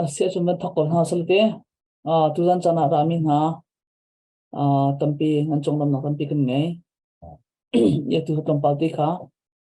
Asiah cun van thok ko hna sal te tuzan caan ah rami hna tampi nan conglawmnak tampi kan ngei. Ya tu tlawmpal ti kha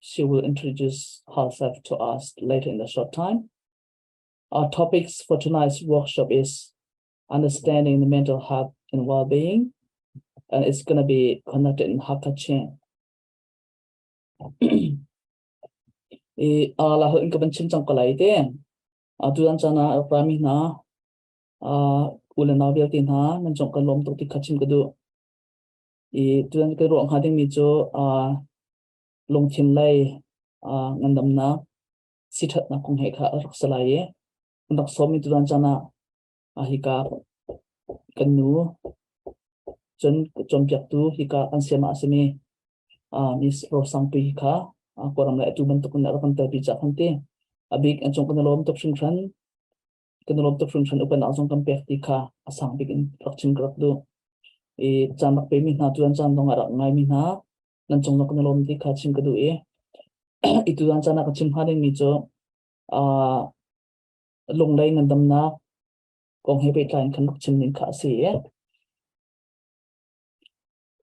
she will introduce herself to us later in the short time. Our topics for tonight's workshop is understanding the mental health and well-being, and it's going to be connected in Hakachin. I a la in ka ban chim chang ko lai te. A tu dan chana rami na a ule na vial ti na nan chong kan lom tok ti khachim ka du. I tu dan ka ro ha ding mi chu a lungthin lei ngandamnak siṭhatnak kong he kha a rak si lai i an rak sawmi tutan caan ah hika kan nu cun cawnpiaktu hika kan siama a simi Miss Rosangpui hi kha kawram le atu bantuk in a rak kan telpi cak kan ti a bik an cung kan lawm tuk hringhran kan lawm tuk hringhran upannak zong kan pek ti kha a sang bik in rak chin ka rak du i caan rak pe mi hna tuan caan zong a rak ngai mi hna nan cung nak na lawm ti kha chim ka duh i i tu dang cana ka chim ha ding mi cu uh, lunglei nan damnak kong he pehtlai khan rak chim ning kha a si i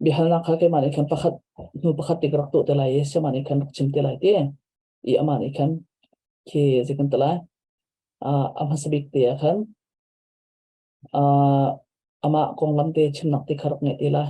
bihalnak kha keimah nih khan pakhat hnu pakhat te rak tuh te lai i sema nih khan rak chim te lai ti i ama nih khan khi zikan te lai uh, a hmasa bik te ah khan uh, ama konglam te chimnak te kha rak nge te lai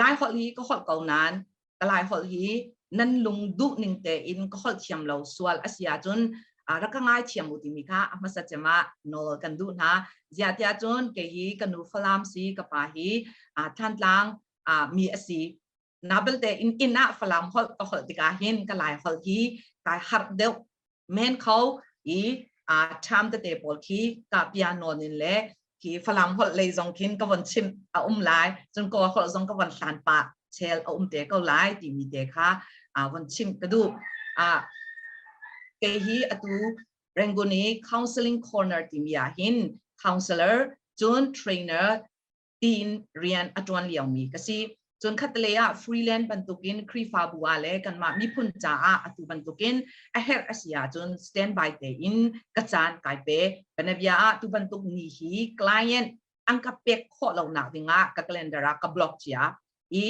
lai holh hi ka holh ko nain ka lai holh hi nan lung duh ning tein ka holh thiam lo sual a si ahcun rak ka ngai thiam u timi kha a hmasa cema nawl kan duh hna ziatia cun kei hi ka nu falam si ka pa hi thantlang mi a si na belte in ina falam holh ka holh tikah hin ka lai holh hi kai harh deuh men kho i a cham tete pawl khi ka piano nin le khi falang holh lei zong khin ka von chim a um lai cun ko holh zong ka von hlan pa chel a um te ko lai ti mi te kha a von chim ka du a ke hi atu Ranguni Counseling Corner ti mi ah hin counselor cun trainer tiin rian a ṭuan liomi ka si. Cun khatlei ah freeland bantukin Khrihfabu ah le kanmah miphun caah atu bantukin a herh a si ahcun standby tein ka caan kai pe. Kanavia ah tu bantuk ni hi client an ka pek khawh lonak dingah ka calendar ah ka block cia i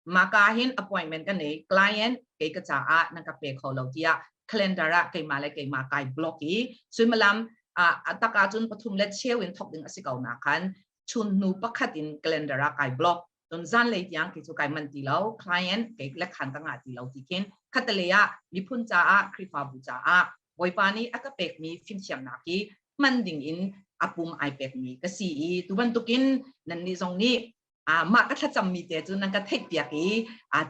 Maka hin appointment ka nei, client kei ka caah nan ka pe kho lo tiah calendar ah keimah le keimah kai block i suimilam a tak ahcun pathum le cheu in thok ding a si ko nakhan chun hnu pakhat in calendar ah kai block don zanlei tiang kei cu kai man ti lo client kei le khan ka nga ti lo ti khin khatalei ah miphun caah khrifabu caah bawipa nih a ka pekmi fimthiamnak hi hman ding in a pum ai pekmi ka si i tu bantukin nannih zong nih mah ka thlacammi te cu nan ka theihpiak i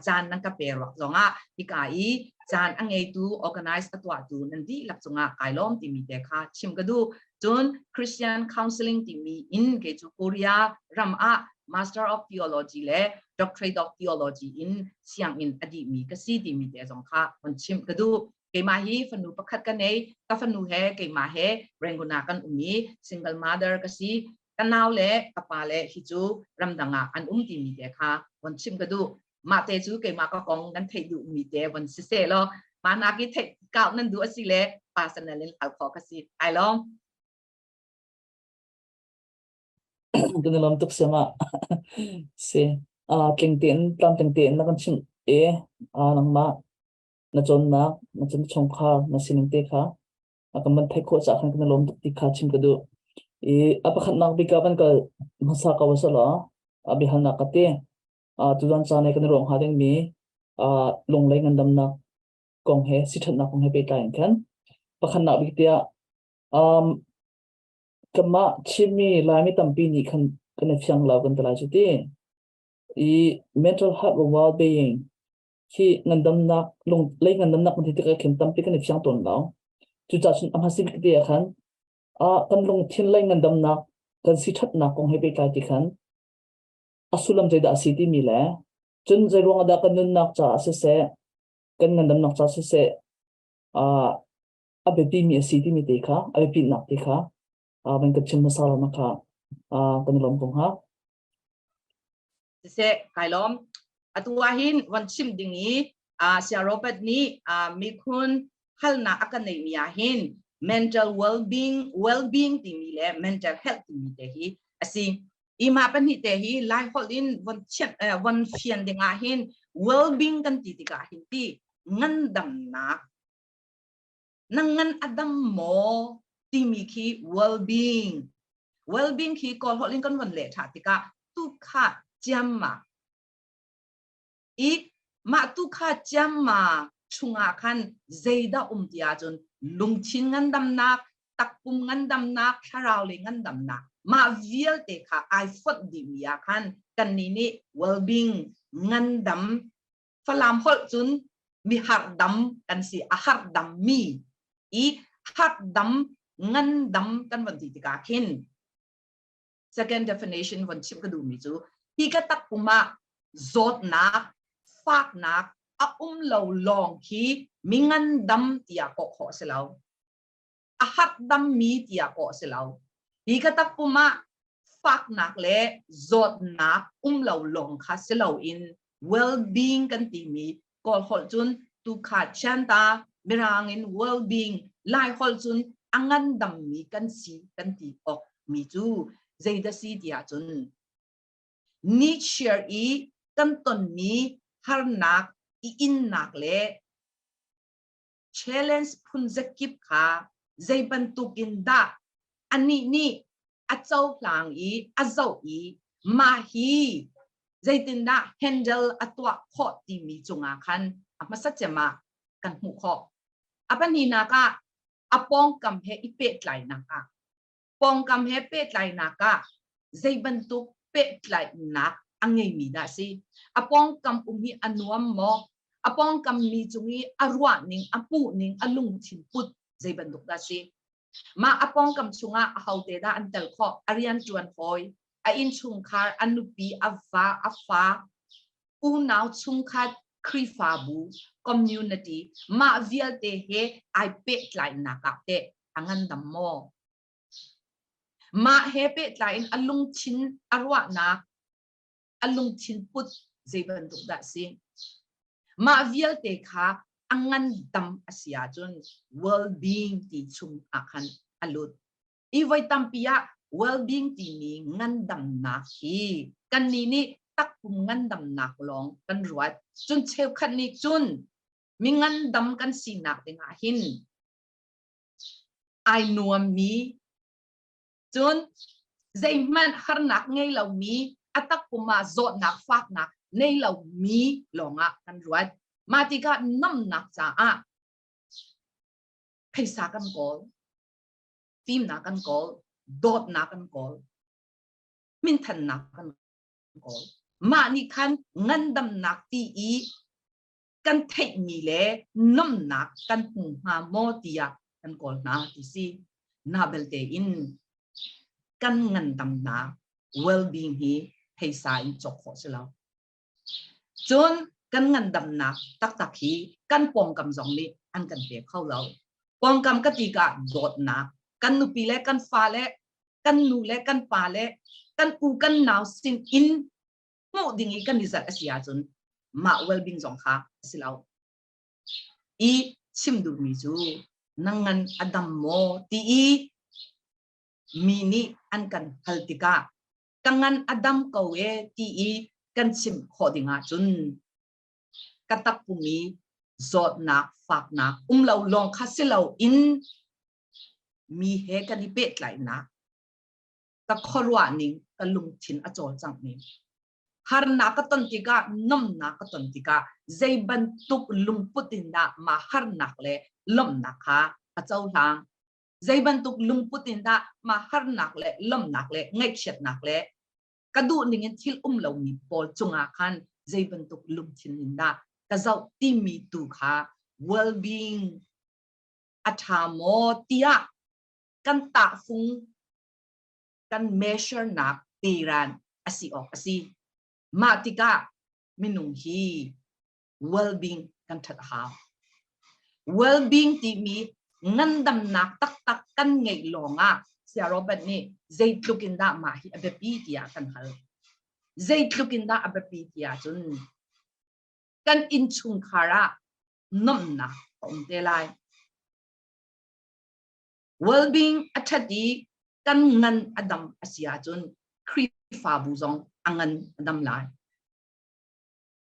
caan nan ka pe ruak zongah hika i caan a ngeitu organize a tuahtu nan dihlak cungah kai lawm timi te kha chim ka duh cun Christian Counseling timi in ke cu Korea ram ah Master of Theology le Doctorate of Theology in sianginn a dihmi ka si timi te zong kha on chim ka duh keimah hi fanu pakhat ka nei ka fanu he keimah he renguna kan um i single mother ka si Ka nau le ka pale hi cu ramdang ah an um timi te kha von chim ka duh. Mah te cu keimah ka kong nan theih duhmi te von si seh law mah nak i theih kau nan duh a si le personal in hal khawh ka si. Ai lawm. kan i lawm tuk siam ah si uh, tling tein tlam tling tein na kan chim e uh, nangmah na cawnnak na chim chungkhar na sining te kha a kan van theih khawh cah khan kan lawm tuk ti kha chim ka duh i a pakhatnak bik ah van kal hmasa ka wa sala a bihalnak ka te a tudan ca nei kan rong ha ding mi a lunglei ngandamnak kong he sithatnak kong he pehtlai in khan pakhatnak bik tiah um kama chimmi laimi tampi nih khan kan i fiang lau kan talai cuti i mental health and well-being khi ngandamnak lung lei ngandamnak hmun tikah khin tampi kan i fiang tawn lo cucah cun a hmasik te ah khan a kan lungthin lei ngandamnak kan si thatnak kong he pehtlai ti khan a sullam zeidah a si timi le cun zei ruang dah kan nunnak caah siseh kan ngandamnak caah siseh a a biapi mi a si timi te kha a biapitnak te kha van kan chim hmasa lo na kha kan i lawm ko hnga siseh kai lawm atu ahhin van chim ding i sia robert nih mikhun halnak a kan neihmi ahhin mental well-being well-being timi le mental health timi te hi a si ima pahnih te hi lai holh in von chiat von fian ding ahhin well-being kan ti tikah hin ti ngandamnak na ngan a dam maw timi khi well-being well-being khi kawl holh in kan von leh tha tikah tu kha ciam ma i mah tu kha ciam ma chungah khan zeidah um ti ahcun lungthin ngandamnak takpum ngandamnak thlarau le ngandamnak mah vialte kha ai phot dih mi ah khan kannih nih well-being ngandam Falam holh cun mi harhdam kan si a harhdam mi i harhdam ngandam kan von ti tikah khin second definition von chim ka duhmi cu hi ka takpum ah zawtnak faknak a um lo lawng khi mi ngandam tiah kawh khawh a si lo a hakdammi tiah kawh a si lo. Hi ka takpum ah faknak le zawtnak um lo lawng kha si loin well-being kan timi kawl holh cun tuukhat sianta mirang in well-being lai holh cun a ngandammi kan si kan ti awk mi cu zeidah si tiah cun Nietzsche i kan tonmi harnak i innak le challenge phunzakip kha zei bantukin dah anih nih a cohlang i a zoh i mah hi zeitindah handle a tuah khawh timi cungah khan a hmasa cema kan hmuh khawh a pahninak ah a pawngkam he i pehtlainak ah pawngkam he pehtlainak ah zei bantuk pehtlainak a ngeimi dah si a pawngkam um hi a nuam maw a pawngkam mi cung i a ruahning a puhning a lungthin put zei bantuk dah si mah a pawngkam chungah a hote dah an tel khawh a rian ṭuan hawi a innchungkhar a nupi a va a fa unau chungkhat Khrihfabu community mah vialte he ai pehtlainak ah te a ngandam maw? Mah he pehtlai in a lungthin a ruahnak, a lungthin put zei bantuk dah si? Mah vialte kha a ngandam a si ahcun well-being ti chung ah khan a lut. Hi voi tampi ah well-being timi ngandamnak hi kannih nih takpum ngandamnak lawng kan ruat. Cun cheukhat nih cun mi ngandam kan sinak ding ah hin ai nuammi cun zeihmanh harnak ngei lomi a takpum ah zawtnak faknak nei lomi lawngah kan ruat mah tikah nomnak caah phaisa kan kawl fimnak kan kawl dawtnak kan kawl minthannak kan kawl mah nih khan ngandamnak ti i kan theihmi le nomnak kan hmu hnga maw tiah kan kawl hna ti si. Na belte in kan ngandamnak well-being hi theisa in cawk khawh si lo. Cun kan ngandamnak taktak hi kan pawngkam zong nih an kan pe kho lo. Pawngkam ka tika dawtnak kan nupi le kan fa le kan nu le kan pa le kan pu kan nau sin in hmuh ding i kan i zalh a si ahcun mah well-being zong kha a si lo. I chim duhmi cu nang ngan a dam maw ti i mi nih an kan hal tikah ka ngan a dam ko e ti i kan chim khawh ding ahcun ka takpumi zawtnak faknak um lo lawng kha si lo in mi he kan i pehtlainak ka khuaruah ning ka lungthin a cawlcangh ning harnak ka ton tikah nomnak ka ton tikah zei bantuk lungput in dah mah harnak le lomnak kha a cohlang zei bantuk lungput in dah mah harnak le lomnak le ngaihchiatnak le ka duh ning in thil um lomi pawl cungah khan zei bantuk lungthin in dah ka zoh timi tu kha well-being a tha maw tiah kan tahfung kan measurnak teran asi awk asi mah tikah minung hi well-being kan that a hau well-being timi ngandamnak taktak kan ngeih lawngah sia Robert nih zeitluk in dah mah hi a biapi tiah kan hal zeitluk in dah a biapi tiah cun kan innchungkhar ah nomnak a um te lai well-being a ṭhat i kan ngan a dam a si ahcun Khrihfabu zong a ngan a dam lai.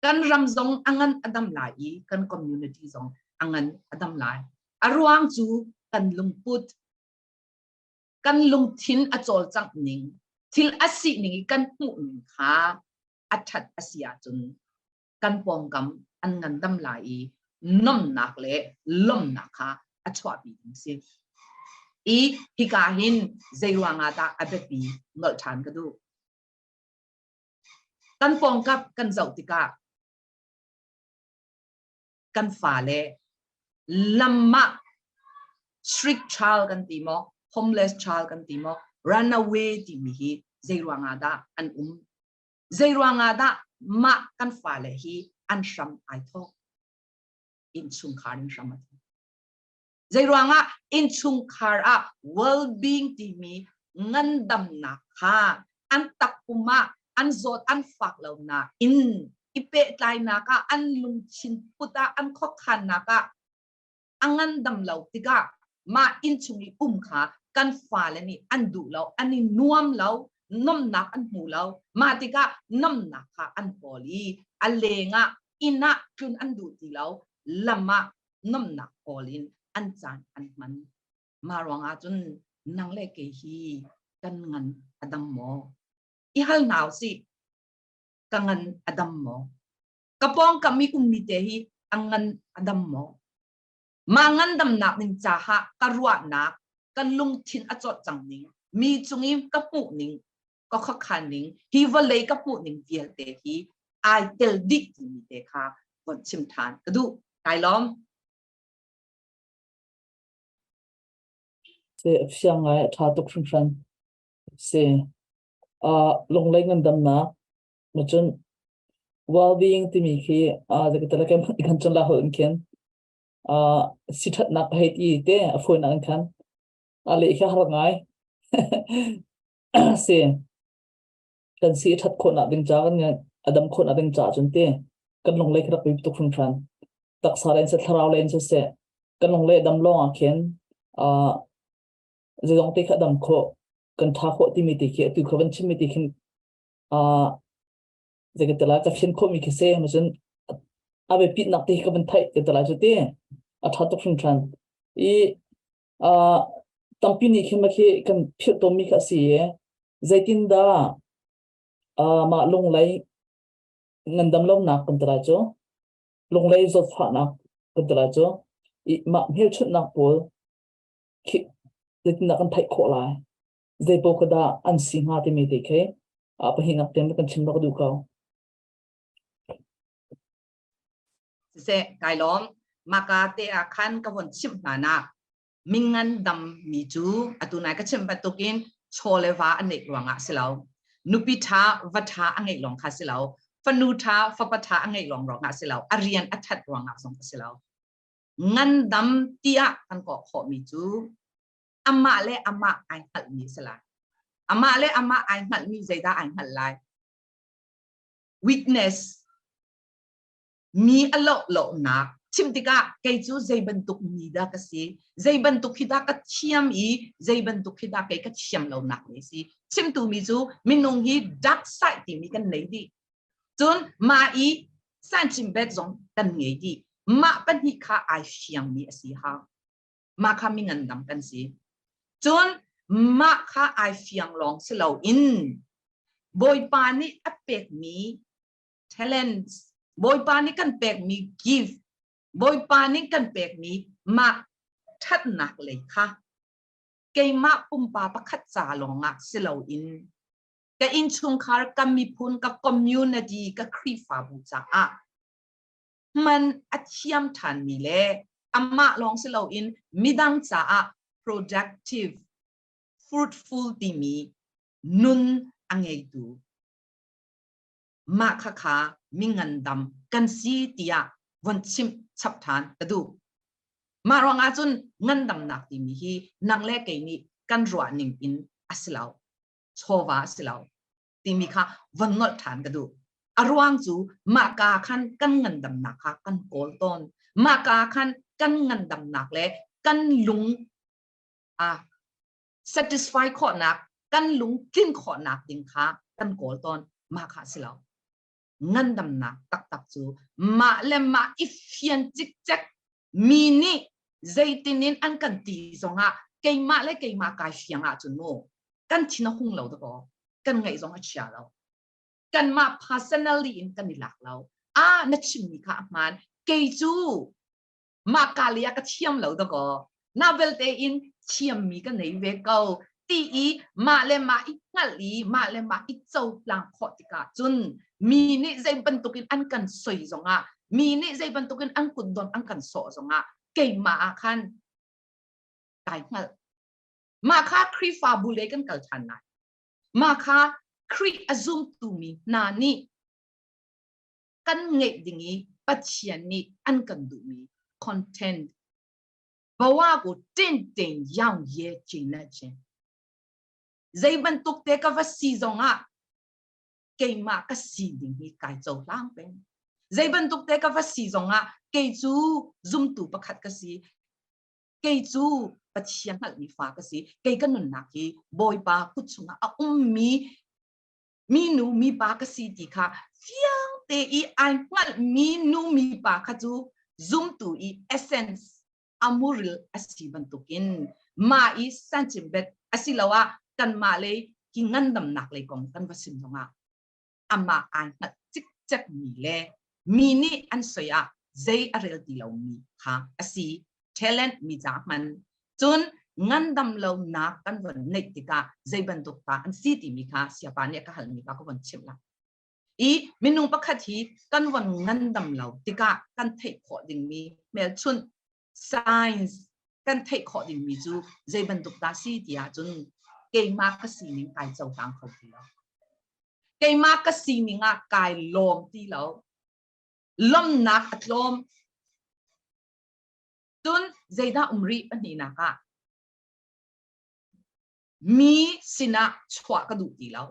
Kan ram zong a ngan a dam lai i kan community zong a ngan a dam lai. A ruang cu kan lungput, kan lungthin a cawlcangh ning, thil a si ning i kan hmuh ning kha a ṭhat a si ahcun kan pawngkam an ngandam lai i nomnak le lawmnak kha a chuahpi ding si. I hika hin zeiruangah dah a biapi nolh ṭhan ka duh. Kan pawngkam kan zoh tikah kan fale lamah strict child kan ti maw, homeless child kan ti maw, runaway timi hi zeiruangah dah an um zei ruangah dah mah kan fale hi an hram ai thawk innchungkhar in hram a thawk zei ruangah innchungkhar ah well-being timi ngandamnak kha an takpum ah an zawt an fak lonak in i pehtlainak ah an lungthin put ah an khokhannak ah a ngandam lo tikah mah innchung i um kha kan fale nih an duh lo, an i nuam lo, nomnak an hmu lo. Mah tikah nomnak kha an kawl i a lengah inn ah tlun an duh ti lo, lam ah nomnak kawl in an caan an hman. Mah ruangah cun nang le kei hi kan ngan a dam maw? I hal hna u sih, ka ngan a dam maw? ka pawngkam i ummi te hi a ngan a dam maw mah ngandamnak ning caah ka ruahnak ka lungthin a cawt cang ning mi cung i ka hmuh ning ka khuakhan ning hi vawlei ka hmuh ning vialte hi ai tel dih timi te kha von chim than ka duh kai lom se afiang ngai a tha tuk hringhran si uh, lunglei ngandamnak Macun well-being timi khi uh, i kan cun la hol in khin uh, si ṭhatnak ka hei ti te a funak in khan a le khi har ngai si kan si ṭhat khawnak ding ca kan adam khawnak ding ca cun te kan lung le khi rak tuk hran hran taksa len se thlarau len se se kan lung le dam lawng ah khin uh, zong te kha dam kho kan tha kho ti mi te khi atu kha van chim mi te khin uh, zeikatala ka thlen khomi khi se macun abe pitnak te ka van thai te tala chu te a tha tuk hring than i uh, tampi ni khi ma khi kan phir to mi kha si zeitin da uh, ma lunglei ngandam lo nak kan tala chu lunglei zot fa nak kan tala chu i ma hmel chut nak pawl khi zeitin kan thai kho lai zeipaoh ka dah an si hnga timi te khi ah pahin ak tem kan chim bak duh ko se kai lom maka te a khan ka hon chim hna nak mingan dam mi cu atunai ka chim batukin cholewa anek ruanga silo nupi tha va tha angei long kha silo fanu tha fapa tha angei long ronga silo arian athat ruanga song silo ngan dam tia kan ko kho mi cu amah le amah ai hngalhmi a si lai. Amah le amah ai hngalhmi zeidah ai hngalh lai? Weakness, mi a loh lohnak. Chim tikah kei cu zei bantuk mi dah ka si, zei bantuk hi dah ka thiam i zei bantuk hi dah kei ka thiam lonak ni si. Chimtu mi cu minung hi dark side timi kan nei dih. Cun mah i san chim bet zong kan ngei dih. Mah pahnih kha ai fiangmi a si hang. mah kha minganam kan si cun mah kha ai fiang lawng si lo in bawipa nih a pekmi talents bawipa nih kan pekmi give bawipa nih kan pekmi mah thatnak lei kha keimah pumpa pakhat ca lawngah si lo in ka innchungkhar ka miphun ka community ka khrifabu caah hman a thiam ṭhanmi le amah lawng si loin midang caah productive fruitful timi nun a ngeitu mah kha kha mi ngandam kan si tiah von chim chap ṭhan ka duh mah ruangah cun ngandamnak timi hi nang le kei nih kan ruah ning in a si lo chawva a si lo timi kha von nolh ṭhan ka duh. A ruang cu mah ka khan kan ngandamnak kha kan kawl tawn. Mah ka khan kan ngandamnak le kan lung a satisfy khawhnak, kan lung tlin khawhnak ding kha kan kawl tawn. Mah kha a si lo. ngandamnak taktak cu mah le mah i fian cikcek mi nih zeitin in an kan ti zongah keimah le keimah kai fiang ahcun mu kan thin a hung lo dakaw kan ngaih zong a chia lo kanmah personally in kan i lak lo ah na chimmi kha a hmaan kei cu mah ka le ka thiam lo da ko na belte in thiam mi ka nei ve ko ti i mah le mah i hngal i mah le mah i co tlang khawh tikah cun mi nih zei bantukin an kan soi zongah mi nih zei bantukin an kutdon an kan sawh zongah keimah ah khan kai hngal mah kha Khrihfabu le kan kal ṭhan lai mah kha Khrih a zumtu mi hna nih kan ngeih ding i Pathian nih an kan duhmi content bawa ku tin tin yang ye chin na chen zei bantuk te ka va si zong ah keimah ka si ding hi kai cho hlang peng zei bantuk te ka va si zong ah kei cu zumtu pakhat ka si kei cu pathian hngalhmi fa ka si kei ka nunnak hi bawipa kut chungah a ummi minu mipa ka si ti kha fiang te i ai hngalh minu mipa kha cu zumtu i essence amuril asi bantukin ma i sanchimbet asiloah kanmah lei ki ngandamnak lei kong kan va sim zongah amah ai hngalh cikcek mi le mi nih an soi ah zei a rel ti lomi kha a si talent mi ca hman cun ngandam lonak kan von neih tikah zei bantuk ta an si timi kha siapa nih ka halmi kha ka von chimh la i minung pakhat hi kan von ngandam lo tikah kan theih khawh dingmi hmelchunh science kan theih khawh dingmi cu zei bantuk dah si ti ahcun keimah ka sining kai cohlang kho ti lo keimah ka sining ah kai lawm ti lo lawmnak a tlawm cun zeidah um rih pahnihnak ah mi sinah chuah ka duh ti lo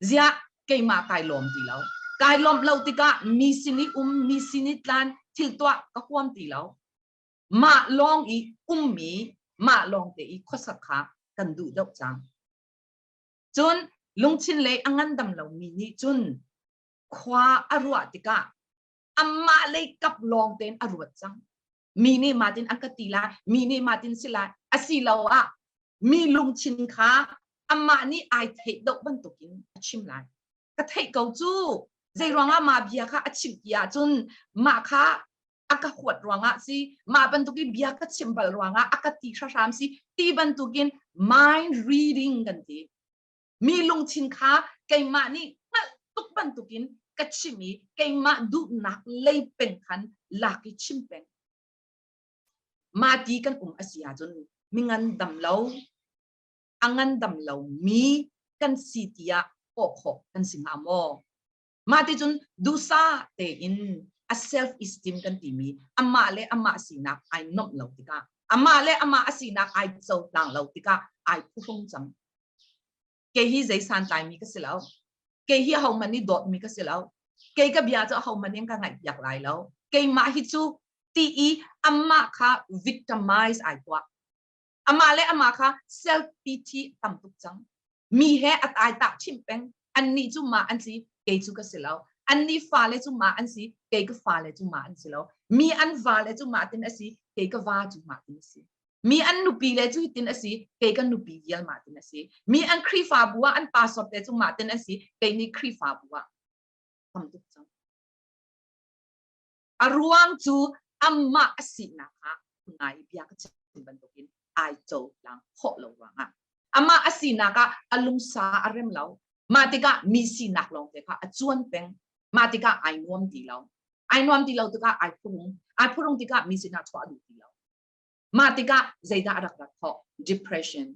ziah keimah kai lawm ti lo kai lawmh lo tikah mi sin i um mi sin i tlan thil tuah ka huam ti lo mah lawng i ummi mah lawng te i khuasak kha kan duh deuh cang cun lungthin le a ngandam lo mi nih cun khua a ruah tikah amah lei kap lawng tein a ruat cang mi nih matin an ka ti lai mi nih matin si lai asiloah mi lungthin kha amah nih ai theih deuh bantukin a chim lai ka theih ko cu zei ruangah ma bia kha a chim ti ahcun mah kha a ka huat ruangah si mah bantukin bia ka chim bal ruangah a ka ti hram si ti bantukin mind reading kan ti mi lungthin kha keimah nih hngalh tuk bantukin ka chim i keimah duhnak lei peng khan lak i chim peng ma ti kan um a si ahcun mi ngan dam lo a ngan dam lo mi kan si tiah kawh khawh kan si hnga maw Mah ti cun duhsa tein a self esteem kan timi amah le amah sinak ai nomh lo tikah amah le amah a sinak ai cohlang lo tikah ai phuhrung cang. Kei hi zei santlaimi ka si lo. Kei hi ahohmanh nih dawtmi ka si lo. Kei ka bia cu ahohmanh nih ka ngaihpiak lai lo. Keimah hi cu ti i amah kha victimize ai tuah. amah le amah kha self pity tam tuk cang. Mi he a taitak chim peng. Annih cu ma an si, kei cu ka si lo. Annih fale cu ma an si, kei ka fale cu ma an si lo. Mi an vale cu ma tin a si, kei ka va cu ma tin a si. Mi an nupi le cu hitin a si, kei kan nupi vial ma tin a si. Mi an Khrihfabu ah an pastor te cu ma tin a si, kei nih Khrihfabu ah. Tam tuk cang. A ruang cu amah a sinak ah ngai bia ka chim bantukin ai cohlang khawh lo ruangah amah a sinak ah a lungsa a rem lo mah tikah mi sinak lawngte kha a cuan peng mah tikah ai nuam ti lo ai nuam ti lo tikah ai phurung ai phurung tikah mi sinak chuah duh ti lo mah tikah zeidah a rak rak khawh depression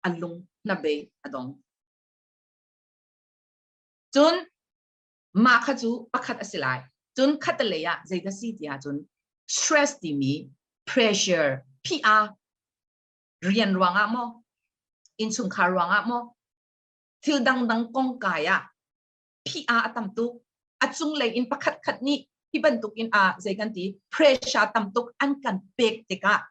a lung hnabei a dong cun mah kha cu pakhat a si lai. Cun khatalei ah zei ka si ti ahcun stress timi pressure PR rian ruangah maw innchungkhar ruangah maw thil dangdang kong kai ah PR a tam tuk a cunglei in pakhat khat nih hi bantukin ah zei kan ti pressure tam tuk an kan pek tikah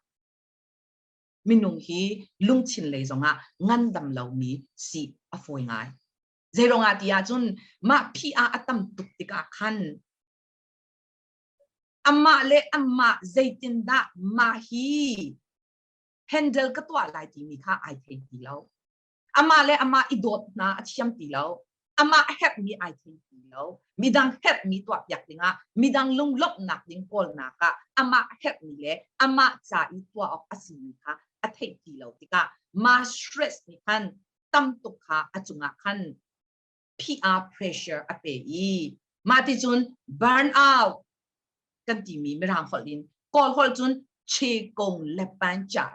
minung hi lungthin lei zongah ngandam lomi si a fawi ngai zeiruangah ti ahcun mah phi ah a tam tuk tikah khan amah le amah zeitindah mah hi handle ka tuah lai timi kha ai thei ti lo amah le amah i dawt hna a thiam ti lo amah herhmi ai thei ti lo midang herhmi tuah piak dingah midang lunglawmhnak ding kawlnak ah amah herhmi le amah ca i tuah awk a simi kha a theih ti lo tikah ma stress nih khan tam tuk kha a cungah khan PR pressure a pe i mah ti cun burn out kan timi mirang holh in kawl holh cun chekong le panchar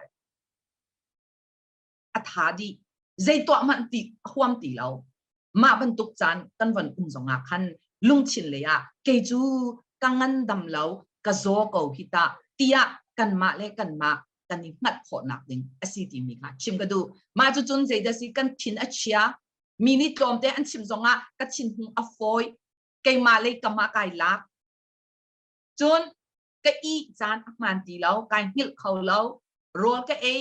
a tha dih zei tuah hmanh ti huam ti lo mah bantuk caan kan von um zongah khan lungthin lei ah kei cu ka ngandam lo ka zaw ko hi ta tiah kanmah le kanmah kan i hngalh khawhnak ding a si timi kha chim ka duh. Mah cu cun zeidah si kan thin a chia. Mi nih tlawmte an chim zongah ka thinhung a fawi. Keimah lei kam ah kai lak. Cun ka ih caan a hmaan ti lo, kai hngilh kho lo, rawl ka ei,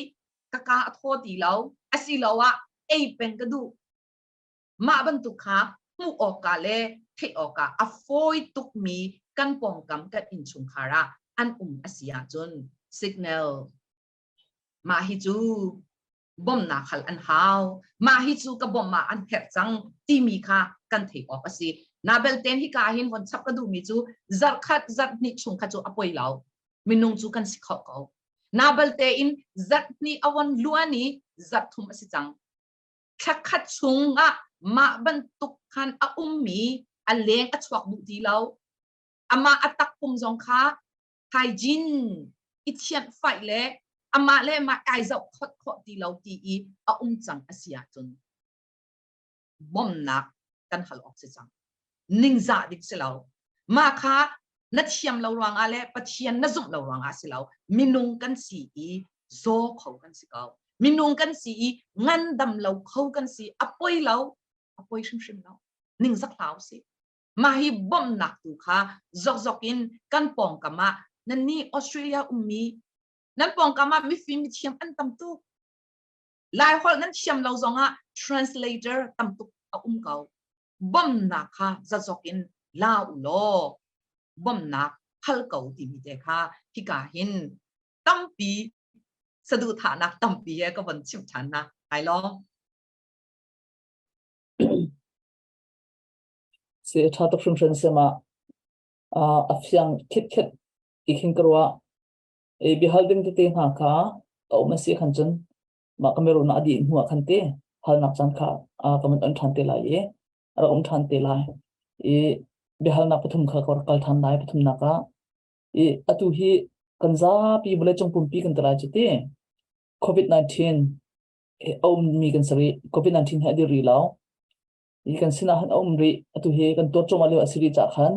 ka kaa a thaw ti lo, asiloah ei peng ka duh. Mah bantuk kha hmuh awkah le theih awkah a fawi tukmi kan pawngkam kan innchungkhar ah an um a si ahcun signal mah hi cu bawmhnak hal an hau mah hi cu ka bawmh ah an herh cang timi kha kan theih awk a si na belten hika ah hin hon chap ka duhmi cu zarh khat zarh hnih chung kha cu a poi lo minung cu kan si khawh ko na balte in zarh hnih a von luan i zarh thum a si cang thla khat chungah mah bantuk khan a ummi a leng a chuak duh ti lo. Amah a takpum zong kha hygiene i thianh faih le amah le mah kai zoh khawt khawh ti lo ti i a um cang a si ahcun bawmhnak kan hal awk si cang. ningzah ding si lo mah kha na thiam lo ruangah le pathian na zumh lo ruangah si lo minung kan si i zaw kho kan si ko minung kan si i ngandam lo kho kan si a poi lo a poi hrimhrim lo ningzak hlau si mah hi bawmhnak tu kha zokzok in kan pawngkam ah nanni australia ummi nan pawngkam ah mifim thiam an tam tuk lai holh nan thiam lo zongah translator tam tuk a um ko bawmhnak kha zazok in la u law bawmhnak hal ko timi te kha hika hin tampi saduhthahnak tampi he ka von chim ṭhan na hai lawng si ṭha tuk hrimhrin si ma a fiang khitkhet ti khin ka ruah e bihal ding tete hna kha a um a si khan cun mah Cameroon ah dih hnu ah khan te halnak caan kha ka man an ṭhan te lai i a rak um ṭhan te lai i biahalnak pathum kha ka rak kal ṭhan lai pathumnak ah i atu hi kan zapi vawleicung pumpi kan telai cu ti covid-19 he a ummi kan sari covid-19 he a dir rih lo i kan sinah han a um rih atu hi kan tuat cuma lio a si rih cah khan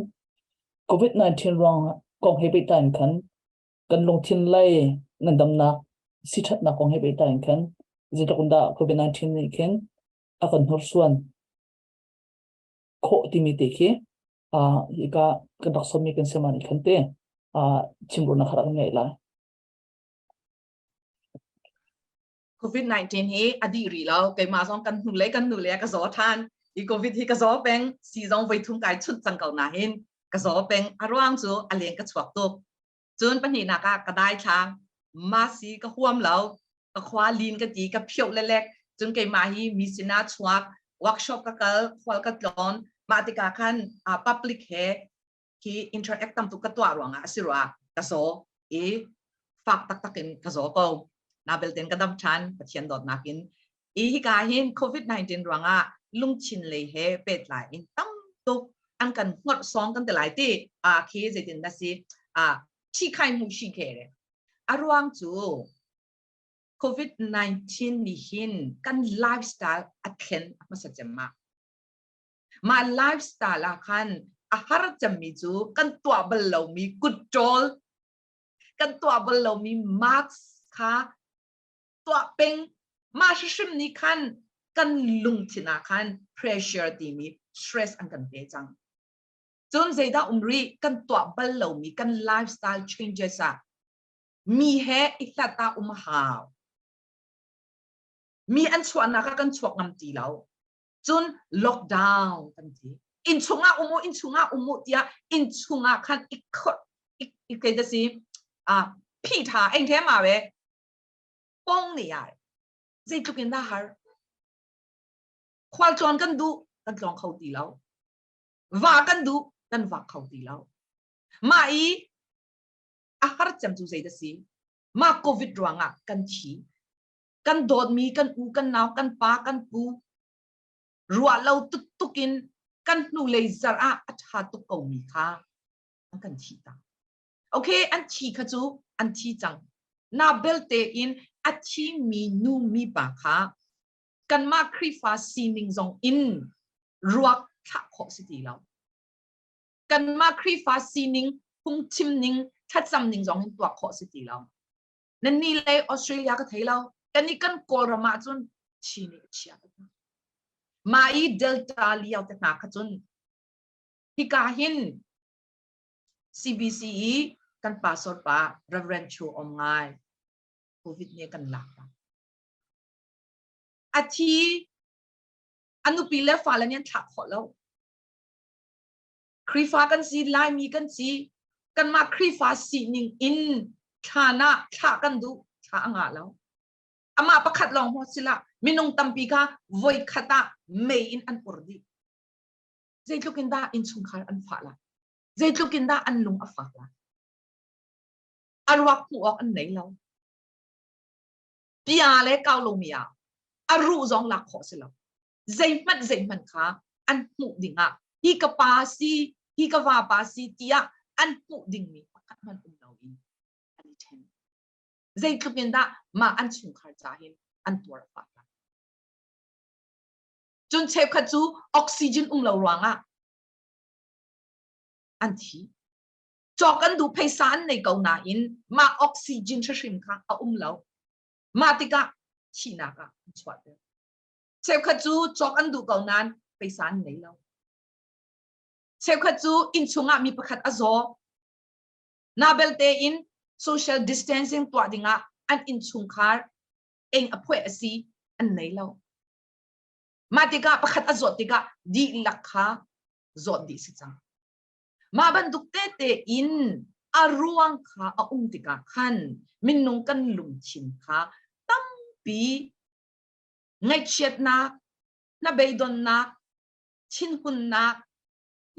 covid-19 ruang kong he pehtlai in khan kan lungthin lei nan damnak si ṭhatnak kong he pehtlai in khan zeitluk in dah COVID-19 nih khin a kan hnursuan khawh timi te khi uh, ika kan rak sawmmi kan sema nih khan te uh, chimruna kharak kan ngeih lai. COVID-19 hi a dih rih lo. Keimah zong kan hnu le kan nu le ka zaw than. Hi COVID hi ka zaw peng, si zong voi thum kai chut cang ko na hin, ka zaw peng, a ruang cu a leng ka chuak tuk. Cun pahnihnak ah ka dai thlang, ma si ka huam lo, ka khua lin ka ti, ka phio le lek, cun keimah hi mi sinah chuak, workshop ka kal, khual ka tlon, mah tikah khan uh, public he hi interact tam tuk ka tuah ruangah a si rua ka saw i fak taktak in ka zaw ko na belten ka dam than pathian dawtnak in i hika hin covid-19 ruangah lungchin lei he petlai in tam tuk an kan ngor song kan te lai ti a khi zeitin na si a thi khai mu shi khe re a ruang cu covid-19 nih hin kan lifestyle a thlen a hmasa cemma Mah lifestyle ah khan a har cemmi cu kan tuah bal lomi control, kan tuah bal lomi marks kha tuah peng. Mah hrim nih khan kan lungthin ah khan pressure timi stress an kan pe cang. Cun zeidah um rih kan tuah bal lomi kan lifestyle changes ah mi he i hlat ah um hau. Mi an chuahnak ah kan chuak ngam ti lo. cun lockdown kan ti innchung ah um u innchung ah um u tiah innchung ah khan i khot i kei da si a phi tha eng the ma we pong ni ai zeitluk in dah har khual tlawn kan du kan tlong kho ti lo va kan du kan va kho ti lo ma i a har cem tu zei da si ma covid ruang ah kan thi kan dawtmi kan u kan nau kan pa kan pu ruah lo tuk in kan hnu lei zar ah a ṭha tuk komi kha an kan thi ta okay an thi kha cu an thi cang na belte in a thimi nu mipa kha kanmah Khrihfa sining zong in ruak thlah khawh si ti lo kanmah Khrihfa sining phungchim ning thlacam ning zong in tuak khawh si ti lo Nannih le Australia ka thei lo. Kan i kan Kawlram ah cun Chin i chia Mah i Delta lio te hna kha cun hika hin CBCE kan pastor pa Reverend Chu Om ngai COVID ne kan lak pa a thi a nupi le fale nih an thlak khawh lo Khrihfa kan si, Laimi kan si. Kanmah Khrihfa sining in thlan ah thlah kan duh, thla a ngah lo. Amah pakhat lawng maw si lah, minung tampi kha voi khat ah mei in an ur dih. Zeitluk in dah innchungkhar an fah la, zeitluk in dah an lung a fak la, a ruak hmuh awk an nei lo. Tia le kaulungmi ah a ruh zong lak khawh si lo. zeihmanh zeihmanh kha an hmuh dingah hi ka pa si hi ka vapa si tiah an hmuh dingmi pakhat hmanh um lo in an i ṭhen zeitluk in dah mah an chungkhar ca hin an tuar a fah cun cheukhat cu oxygen um lo ruangah an thi cawk an duh pheisa an nei ko nain mah oxygen hrim kha a um lo mah tikah thihnak ah an chuahter Cheukhat cu cawk an duh ko nain peisa an ngei lo. Cheukhat cu innchung ah mi pakhat a zaw. Na belte in social distancing tuah dingah an innchungkhar eng a phueh a si an nei lo. Mah tikah pakhat a zawt tikah dihlak kha zawt dih si cang. Mah bantuk tete in a ruang kha a um tikah khan minung kan lungthin kha tampi ngaihchiatnak, hnabeidonnak, thinhunnak,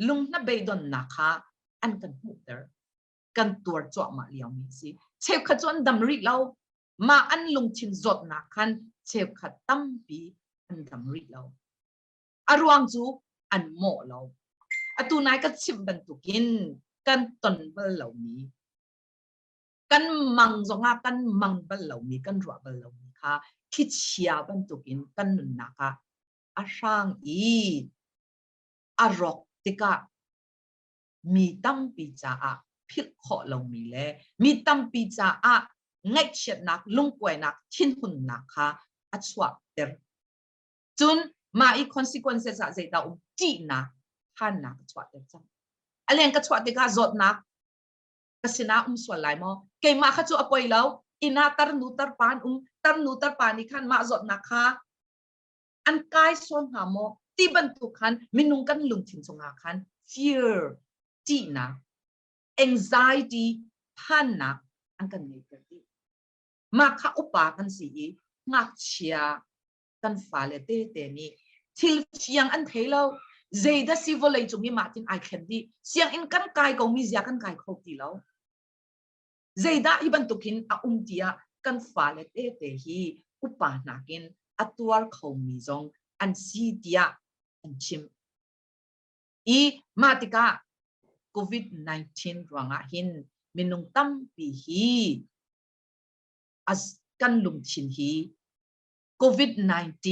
lunghnabeidonnak kha an kan hmuhter. Kan tuar cuahmah liomi a si. Cheukhat cu an dam rih lo. Mah an lungthin zawtnak khan cheukhat tampi an dam rih lo. A ruang cu an mawh lo. Atu nai ka chimh bantukin kan ton bal lomi kan mang zongah kan mang bal lomi kan ruah bal lomi kha thlichia bantukin kan nunnak ah a hrang i a rawk tikah mi tampi caah philh khawh lomi le mi tampi caah ngaihchiatnak lungkuainak thinhunnak kha a chuahter cun mah i consequences ah zeidah um ṭihnak phannak a chuahter cang a leng ka chuah tikah zawtnak ka sinah um sual lai maw? Keimah kha cu a poi lo. Inn ah tarnu tarpa an um, tarnu tarpa nih khan mah zawtnak kha an kai sual hna maw? Ti bantuk khan minung kan lungthin cungah khan fear, ṭihnak, anxiety, phannak an kan ngeihter dih. Mah kha upa kan si i ngakchia kan fale tete nih thil thiang an thei lo zeidah si vawlei cung i mahtin ai thlen dih sianginn kan kai ko mi zia kan kai kho ti lo zeidah hi bantukin a um tiah kan fale tete hi upa nakin a tuar kho mi zong an si tiah an chim i mah tikah covid-19 ruangah hin minung tampi hi as kan lungthin hi COVID-19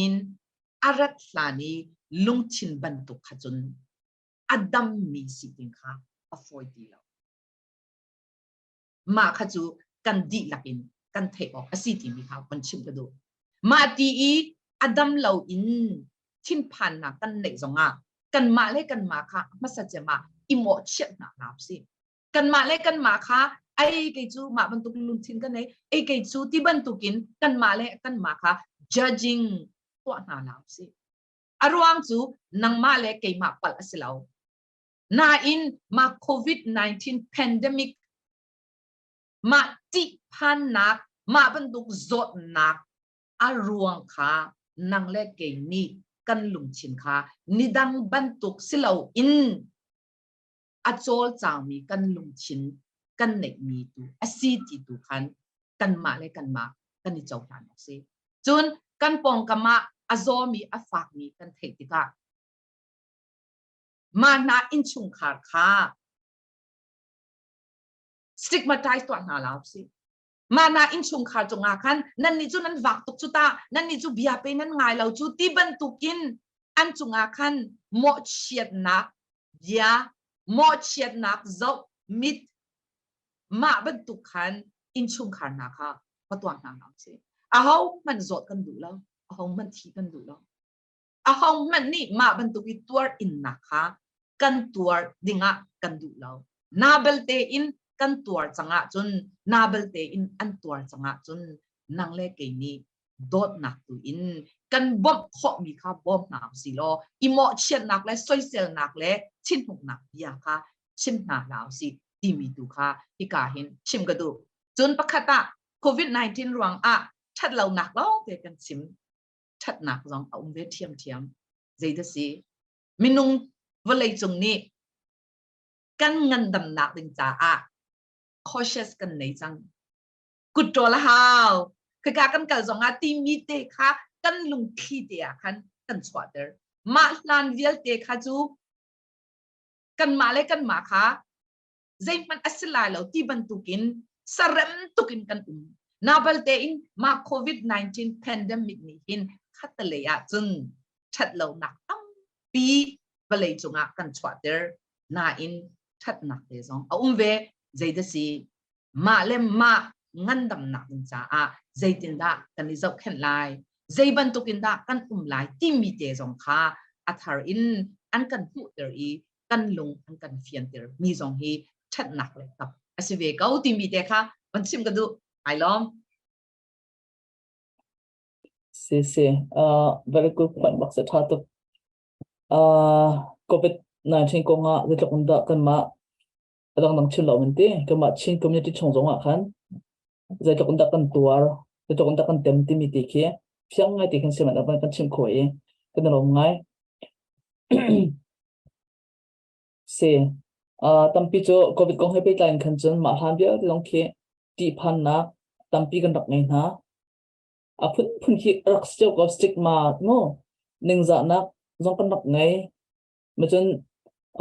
a rat hlan i lungthin bantuk kha cun a dammi si ding kha a fawi ti lo. Mah kha cu kan dihlak in kan theih awk a si timi kha kan chim ka duh. Mah ti i a dam lo in thinphannak kan neih zongah kanmah le kanmah kha hmasa cem ah i mawhchiat hna hna si. kanmah le kanmah kha ai kei cu mah bantuk lungthin kan nei ei kei cu ti bantukin kanmah le kanmah kha judging tuah hna la si a ruang cu nangmah le keimah palh a si lo nain mah covid-19 pandemic mah ttihphannak mah bantuk zawtnak a ruang kha nang le kei nih kan lungthin kha nidang bantuk si lo in a cawlcangmi kan lungthin kan neihmi tu a si ti tu khan kanmah le kanmah kan i cohlan awk si. Cun kan pawngkam ah a zawmi a fakmi kan theih tikah mah hna innchungkhar kha stigmatize tuah hna la usih. mahnak innchungkhar cungah khan nannih cu nan vak tuk cu ta nannih cu bia pe nan ngai lo cu ti bantukin an cungah khan mawhchiatnak bia mawhchiatnak zoh mit mah bantuk khan innchungkhar hna kha va tuang hna hlah u sih ahohmanh zawt kan duh lo ahohmanh thih kan duh lo ahohmanh nih mah bantuk i tuarhimnak kha kan tuar dingah kan duh lo. Naa bel tein kan tuar cangah cun naa bel tein an tuar cangah cun nang le kei nih dawtnak tu in kan bawmh khawhmi kha bawm hna u si law i mawhchiatnak le soiselnak le thinhuknak bia kha chim hna hna u si timi tu kha hika hin chim ka duh. Cun pakhat ah COVID-19 ruangah ṭhatlonak lawngte kan chim ṭhatnak zong a um ve ṭhiamṭhiam. Zeidasi? Minung vawleicung nih kan ngandamnak ding caah cautious kan nei cang. Kutṭawl a hau. Khika kan kal zongah timi te kha kan lungthli te ah khan kan chuahter. Mah hlan vialte kha cu kanmah le kanmah kha zeihmanh a si lai lo ti bantukin sarem tukin kan um nabal tein mah covid-19 pandemic nih hin khatalei ah cun ṭhatlonak tampi vawlei cungah kan chuahter nain ṭhatnak te zong a um ve zeidasi mah le mah ngandamnak ding caah zeitindah kan i zohkhenh lai zei bantukin dah kan um lai timi te zong kha a thar in an kan hmuhter i kan lung an kan fianter mi zong hi ṭhatnak le tap a si ve ko timi te kha van chim ka duh ai lawm si si uh, very good point bak sa tha tuk uh, covid 19 kong ah zetluk in dah kan mah a dangdang thil lo in ti kamah Chin community chung zong ah khan zeitluk in dah kan tuar zeitluk in dah kan tem timi ti khi fiang ngai ti kan si man kan chim kho i kan lawm ngai se uh, tampi cu covid kong he pehtlai in khan cun mah hlan vialte zong khi tih phannak tampi kan rak ngei hna a phun phun khi rak cio ko stigma ngo ningzahnak zong kan rak ngei na cun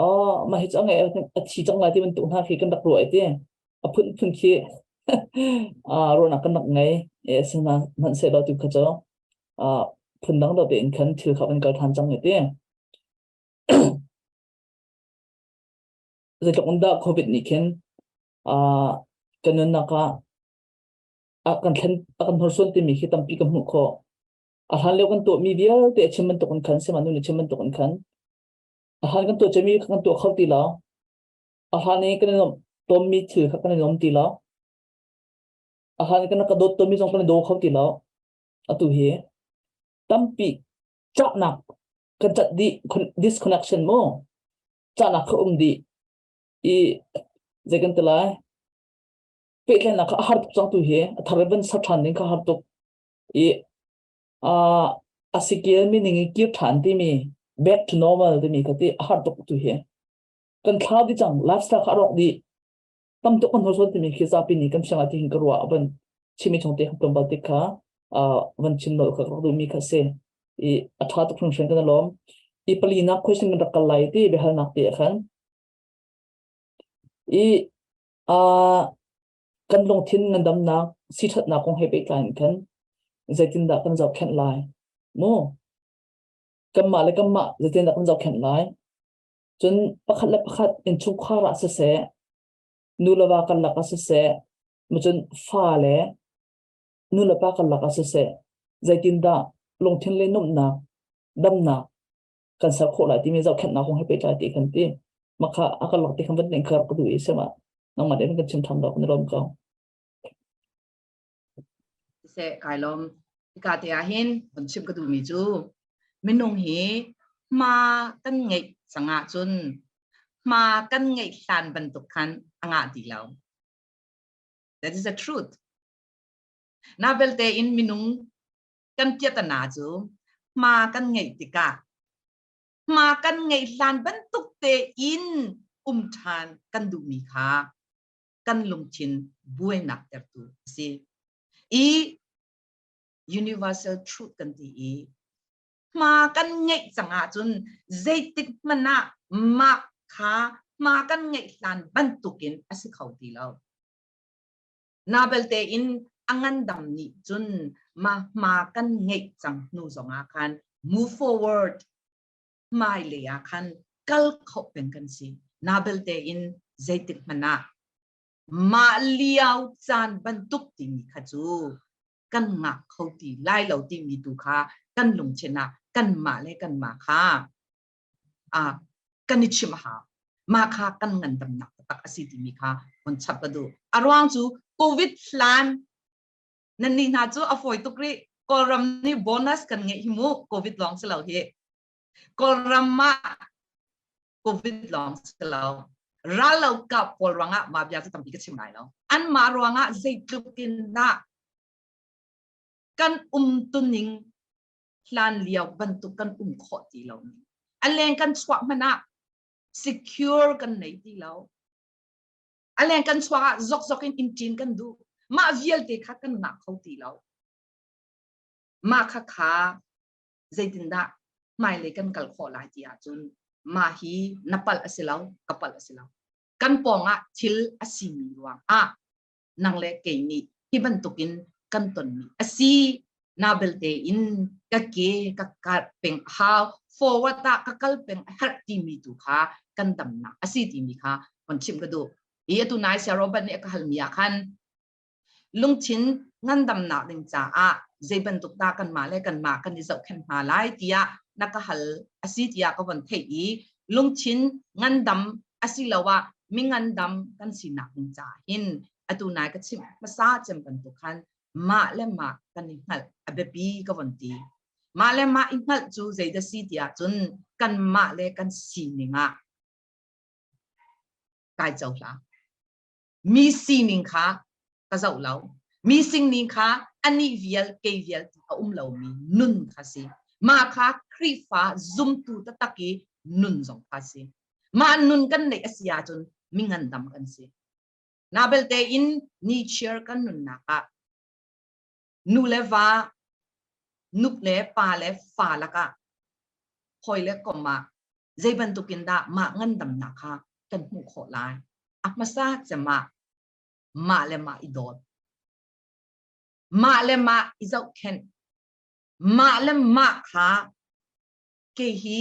oh mah hi cu a ngai a thi cang lai ti bantuk hna khi kan rak ruah ti a phun phun khi ruahnak kan rak ngei e a si hna hmanh se lo tu kha cu phun dang dawte in khan thil kha an kal than cang ti zeitluk in dah covid nih khin kan nunnak ah a kan thlen a kan hnorsuan timi khi tampi ka hmuh khawh A hlan lio kan tuahmi vialte a chim bantuk in khan sihmanhnu ni chim bantuk in khan a hlan kan tuah cemi kan tuah kho ti lo a hlan i kan i nuamh tonmi thil kha kan i nuam ti lo a hlan kan ka dawt tonmi zong kan i daw kho ti lo atu hi tampi cahnak kan cat dih disconnection mu cahnak kha um dih i zei kan ti lai pehtlaihnak kha a har tuk cang tu hi a thar van sa ṭhan ding kha har tuk i uh, a skill meaning i kir than timi back to normal timi ka ti a har tuk tu hi kan thlau di chang lifestyle kha rok di tam tuk kan hosol timi khi zapi ni kan siang ati hin ka ruwa aban chimi chong te hamtom bal tik kha van chin lo ka ru mi kha se i a tha tuk hun shen kan lom i pali na question kan rakal lai ti behal nak te khan i a Kan lungthin ngandamnak siṭhatnak kong he pehtlai in khan zeitindah kan zohkhenh lai? Maw kanmah le kanmah zeitindah kan zohkhenh lai? Cun pakhat le pakhat in chungkhar ah siseh, nu le va karlak ah siseh, macun fa le nu le pa karlak ah siseh, zeitindah lungthin le numnak, damnak kan ser khawh lai timi zohkhenhnak kong he pehtlai ti kan ti makha a kan lak ti khan van ning khar ka du i sema nangmah den kan chim tham da kun rom ka se kai lom ka te a hin on chim ka du mi chu minung hi ma kan ngei sanga chun ma kan ngei hlan bantuk khan anga ti lo that is the truth na belte in minung kan kiatana cu hma kan ngeih tikah hma kan ngeih hlan bantuk te in um ṭhan kan duhmi kha kan lungthin buainak tertu a si i universal truth kan ti i hma kan ngeih cang ahcun zeitik hmanh ah mah kha hma kan ngeih hlan bantukin a si kho ti lo Na belte in a ngandam nih cun mah hma kan ngeih cang hnu zongah khan move forward hmailei ah khan kal kho peng kan si na belte in zeitik hmanh ah mah lio caan bantuk timi kha cu kan ngak kho ti lai lo timi tu kha kan lungchen ah kan mah le kan mah kha uh, kan i chim ha ma kha kan ngan tam nak tak asi ti mi kha on chap ka du arwang chu covid hlan nan ni hna chu afoi tuk ri kawlram ni bonus kan nge hi mu covid long si lo hi kawlram ma covid long si lo ral lo ka pol ranga ma bia chu tampi ka chim lai lo an ma ruanga zeitluk in na kan um tuning hlan lio bantuk kan um khawh ti lo a leng kan chuah hmanh ah secure kan nei ti lo a leng kan chuak ah zokzok in intin kan duh mah vialte kha kan ngah kho ti lo mah kha kha zeitindah hmailei kan kal khawh lai ti ahcun mah hi na palh a si lo ka palh a si lo kan pawng ah thil a simi ruang ah nang le kei nih hi bantukin kan tonmi a si Nobel te in ka ke ka kat peng hau forward ah ka kal peng a herh timi tu kha kan damnak a si timi kha kon chim ka du i atu nai sia Robert nih ka hal mi ah khan lungthin ngandamnak ding caah zei bantuk ta kan ma le kan ma kan i zohkhen hna lai tiah na ka hal a si tiah ka von theih i lungthin ngandam asiloah mingandam kan sinak ding caah hin atu nai ka chimh hmasa cem bantuk khan mah le mah kan i hngalh a biapi ka von ti mah le mah i hngalh cu zeidah si tiah cun kan mah le kan sining ah kai cohlang mi sining kha ka zoh lo mi singning kha anih vial kei vial a um lomi nun kha si mah kha Khrihfa zumtu taktak i nun zong kha si mah nun kan neih a si ahcun mi ngandam kan si na belte in ni cheer kan nunnak ah nu le va nup le pa le fa lakah hawi le kom ah zei bantuk in dah mah ngandamnak kha kan hmuh khawh lai a hmasa cemah mah le mah i dawt mah le mah i zohkhenh mah le mah kha kei hi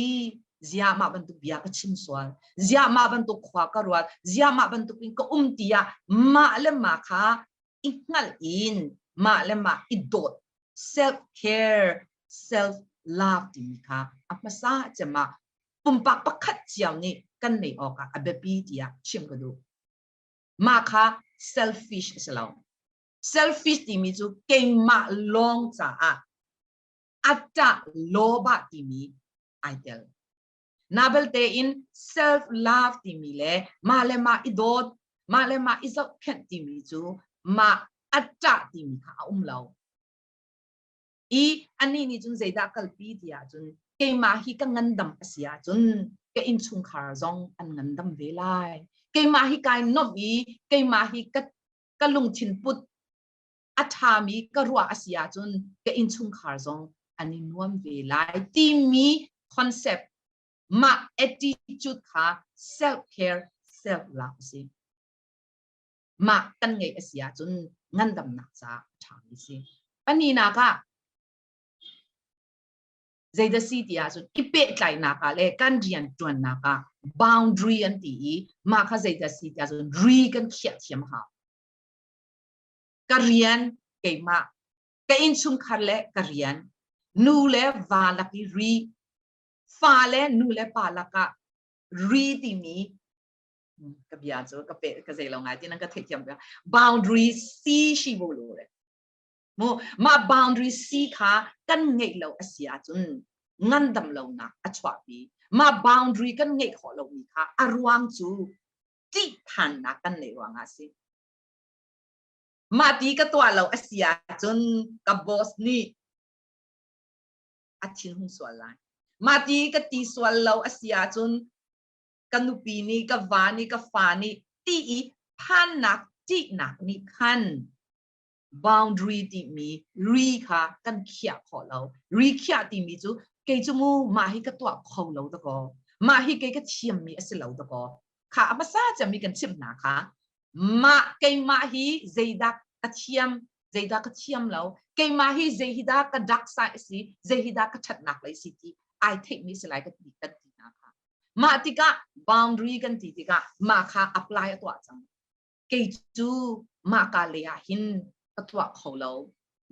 ziahmah bantuk bia ka chim sual ziahmah bantuk khua ka ruat ziahmah bantuk in ka um tiah mah le ma kha i hngal in mah le ma i dawt self care self love timi kha a hmasa cema pumpak pakhat ciao nih kan nei awk ah a biapi tiah chim ka duh mah kha selfish a si lo selfish timi cu keimah lawng caah attah lobah timi ai tel na belte in self love timi le mah le mah i dawt mah le mah i zohkhenh timi cu mah attah timi kha a um lo i ani nih cun zeidah kalpi ti ahcun keimah hi ka ngandam a si ahcun ka innchungkhar zong an ngandam ve lai keimah hi kai nuamh i keimah hi ka ka lungthin put a ṭhami ka ruah a si ahcun ka innchungkhar zong an i nuam ve lai timi concept mah attitude kha self care self love a si mah kan ngeih a si ahcun ngandamnak ca a ṭhami si pahninak ah zeidasi ti ahcun i pehtlainak ah le kan rian ṭuannak ah boundary an ti i mah kha zeidasi ti ahcun re kan khiah thiam hau ka rian keimah ka innchungkhar le ka rian nu le va lak i ri fa le nu le pa lakah ri timi ka bia cu ka pe ka zei lo ngai ti nan ka theih thiam bia boundary si shi bo lo re mu ma boundary si kha kan ngeih lo asia cun ngan dam lo nak a chuahpi ma boundary kan ngeih khawh lo mi kha a ruang cu tih than nak kan nei ruang a si Mah ti ka tuah lo a si ahcun ka boss nih a thinhung sual lai. Mah ti ka ti sual lo a si ahcun ka nupi nih ka va nih ka fa nih ti i phannak ṭihnak nih khan boundary timi ri kha kan khiah khawh lo. Ri khiah timi cu kei cu mu mah hi ka tuah kho lo dakaw. Mah hi kei ka thiammi a si lo dakaw. Kha a hmasa cem i kan chimh hna kha mah keimah hi zeidah ka thiam zeidah ka thiam lo keimah hi zei hi dah ka dark side si zei hi dah ka ṭhatnak lei si ti ai theihmi si lai kan ti kan ti hna kha mah tikah boundary kan ti tikah mah kha apply a tuah cang kei cu mah ka lei ah hin ka tuah kho lo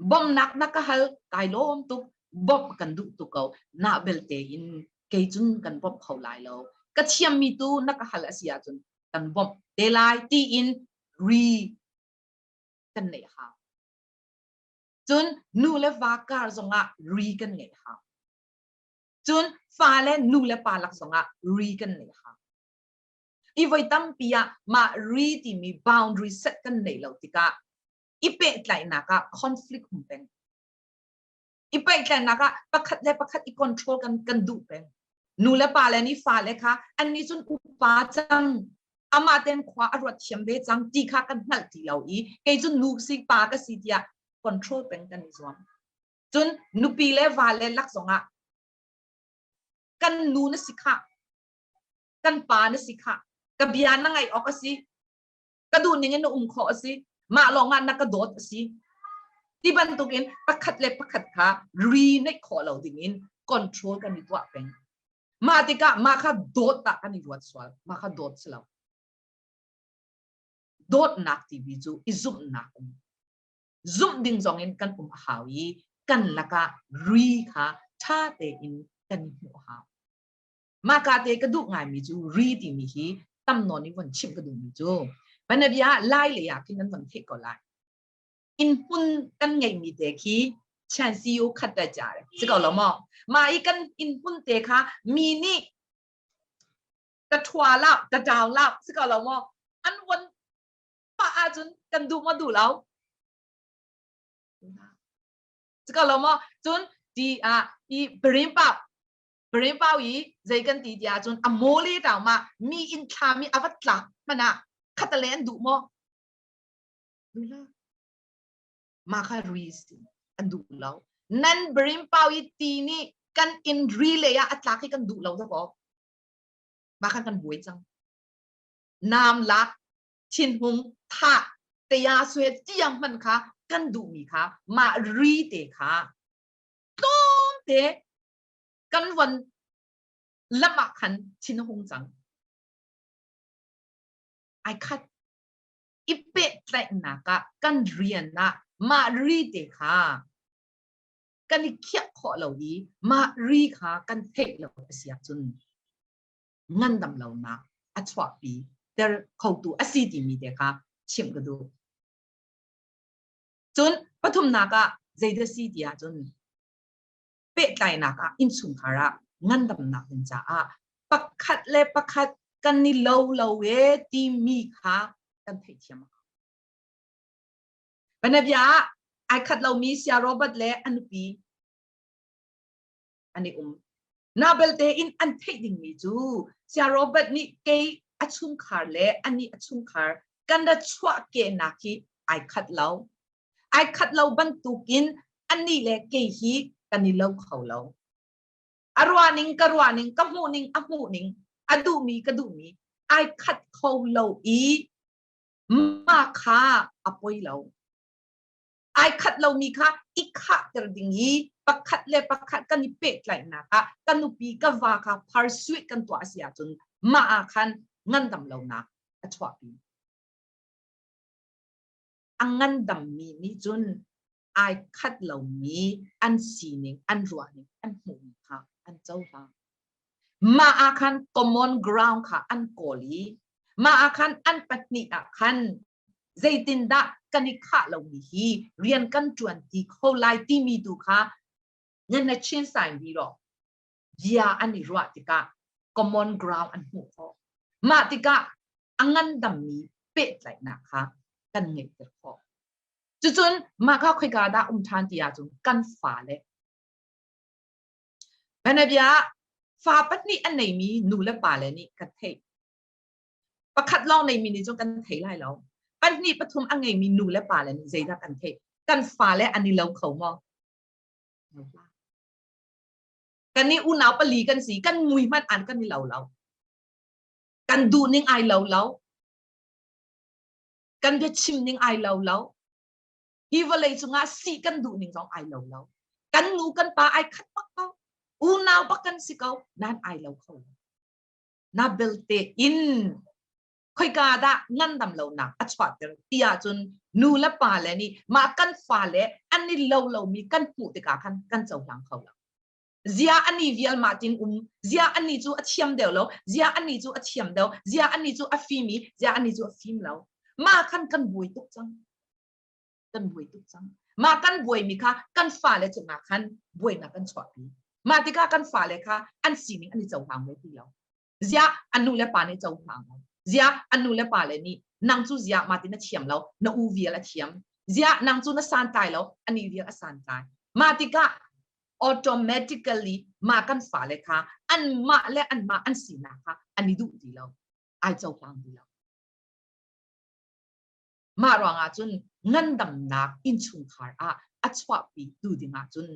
bawmhnak na ka hal kai lawm tuk bawmh kan duh tuk ko na belte in kei cun kan bawmh kho lai lo ka thiammi tu na ka hal a si ahcun kan bawmh te lai tiin ri kan nei hau. Cun nu le va kar zongah ri kan ngei hau. Cun fa le nu le pa lak zongah ri kan nei hau. I voi tampi ah mah ri timi boundary set kan nei lo tikah i pehtlaihnak ah conflict um peng. i pehtlaihnak ah pakhat le pakhat i control kan kan duh peng nu le pa le nih fa le kha an nih cun upa cang amah ten khua a ruat thiam ve cang ti kha kan hngalh ti lo i kei cun nu si pa ka si tiah control peng kan i zuam cun nupi le va le lak zongah kan nu na si khah kan pa na si khah ka bia na ngaih awk a si ka duhning in na um khawh a si mah lawng ah na ka dawt a si ti bantukin pakhat le pakhat kha reunite khawh lo ding in control kan i tuah peng mah tikah mah kha dawt tak kan i ruat sual mah kha dawt si lo dawtnak tivi cu i zumhnak um zumh ding zong in kan um a hau i kan lakah re kha ṭha tein kan i hmuh hau mahka te ka duh ngaimi cu ri timi hi tam nawn in von chimh ka duhmi cu panabia lai lei ah khin an von theih ko lai in pun kan ngeimi te khi chian siu khat ta cha si ko lo mo ma i kan in pun te kha mi nih ka thua la ka ṭau la si ko lo mo an von pa ahcun kan duh mo duh lo si ko lo mo cun ti ah i perim pap Marine pau i zei kan ti ti ahcun a mole tau ma mi inn thlami a vat tlak hmana khata le an duh maw duh ma kha ruis an duh lo nan brim pau i ti ni kan in relay ah atlak hi kan duh lo ta ko ma khan kan buai cang nam lak thin hum tha te ya sue tiang man kha kan duh mi kha ma ri te kha tlawm te kan von lam ah khan thinhung cang ai khat i pehtlaihnak ah kan rian ah mah ri te kha kan i khiah khawh lo i mah ri kha kan theih lo a si ahcun ngandam lonak a chuahpi ter khotu a si timi te kha chim ka duh cun pathumnak ah zeidah si ti ahcun pehtlainak ah innchungkhar ah ngandamnak ding caah pakhat le pakhat kan i lo lo e timi kha kan theihthiam a Banabia ah ai khat lomi sia Robert le a nupi an i um. Nobel tein an theih dingmi cu sia Robert nih kei a chungkhar le ani a chungkhar kan ra chuahkenak hi ai khat lo ai khat lo bantukin anih le kei hi kan i lo kho lo a ruaning ka ruaning ka hmuhning a hmuhning a duhmi ka duhmi ai khat kho lo i ma kha a poi lo ai khat lomi kha i khahter ding i pakhat le pakhat kan i pehtlaihnak ah kan upi ka va ka pharsuit kan tuah si ahcun ma khan ngandam lonak a chuahpi a ngandammi nih cun ai khat lomi an sining, an ruahning, an hmuhmi kha an cohlang. Mah ah khan common ground kha an kawl i mah ah khan an pahnih ah khan zeitindah kan i khah lomi hi rian kan ṭuan ti kho lai timi tu kha nan na chin sign bi rawh. bia an i ruah tikah common ground an hmuh khawh. Mah tikah a ngandammi pehtlaihnak kha kan ngeihter khawh. Cucun mah kha khoika dah um ṭhan ti ahcun kan fale Banabia fa pahnih an neimi nu le pale nih kan theih. Pakhat lawng neimi nih cun kan thei lai lo. Pahnih pathum a ngeimi nu le pale nih zeidah kan theih? Kan fale an i lo kho maw? kan i unau pali kan si kan mui hmanh an kan i lo lo kan duh ning ai lo lo kan biachim ning ai lo lo hi vawlei cungah si kan duh ning zong ai lo lo kan nu kan pa ai khat bak ko unau bak kan si ko nan ai lo kho na belte in khoika dah ngandam lonak a chuahter ti ahcun nu le pa le nih mah kan fale an ni lo lomi kan hmuh tikah khan kan cohlang kho lo zia ani vial ma tin um zia ani cu a thiam deuh lo zia ani cu a thiam deuh zia ani cu a fim i zia ani cu a fim lo ma khan kan bui tuk cang kan bui tuk cang ma kan buaimi kha kan fale cungah khan buainak kan chuahpi mah tikah kan fale kha an sining an i cohlang ve ti lo ziah an nu le pa nih cohlang lo ziah an nu le pa le nih nang cu ziah ma tin a thiam lo na u vial a thiam ziah nang cu na santlai lo ani vial a santlai mah tikah automatically mah kan fale kha an mah le an mah an sinak kha an i duh ti lo ai cohlang ti lo Mah ruangah cun ngandamnak innchungkhar ah a chuahpitu dingah cun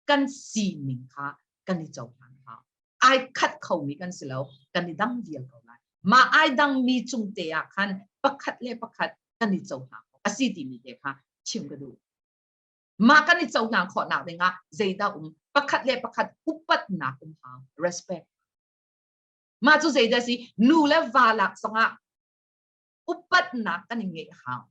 kan sining kha kan i cohlan hna. Ai khat khomi kan si lo, kan i dang vial ko lai. Mah ai dangmi cungte ah khan pakhat le pakhat kan i cohlan khawh a si timi te kha chim ka duh. Mah kan i cohlan khawhnak dingah zeidah um? Pakhat le pakhat upatnak um hang, respect. Mah cu zeidah si? Nu le va lak zongah upatnak kan i ngeih hau.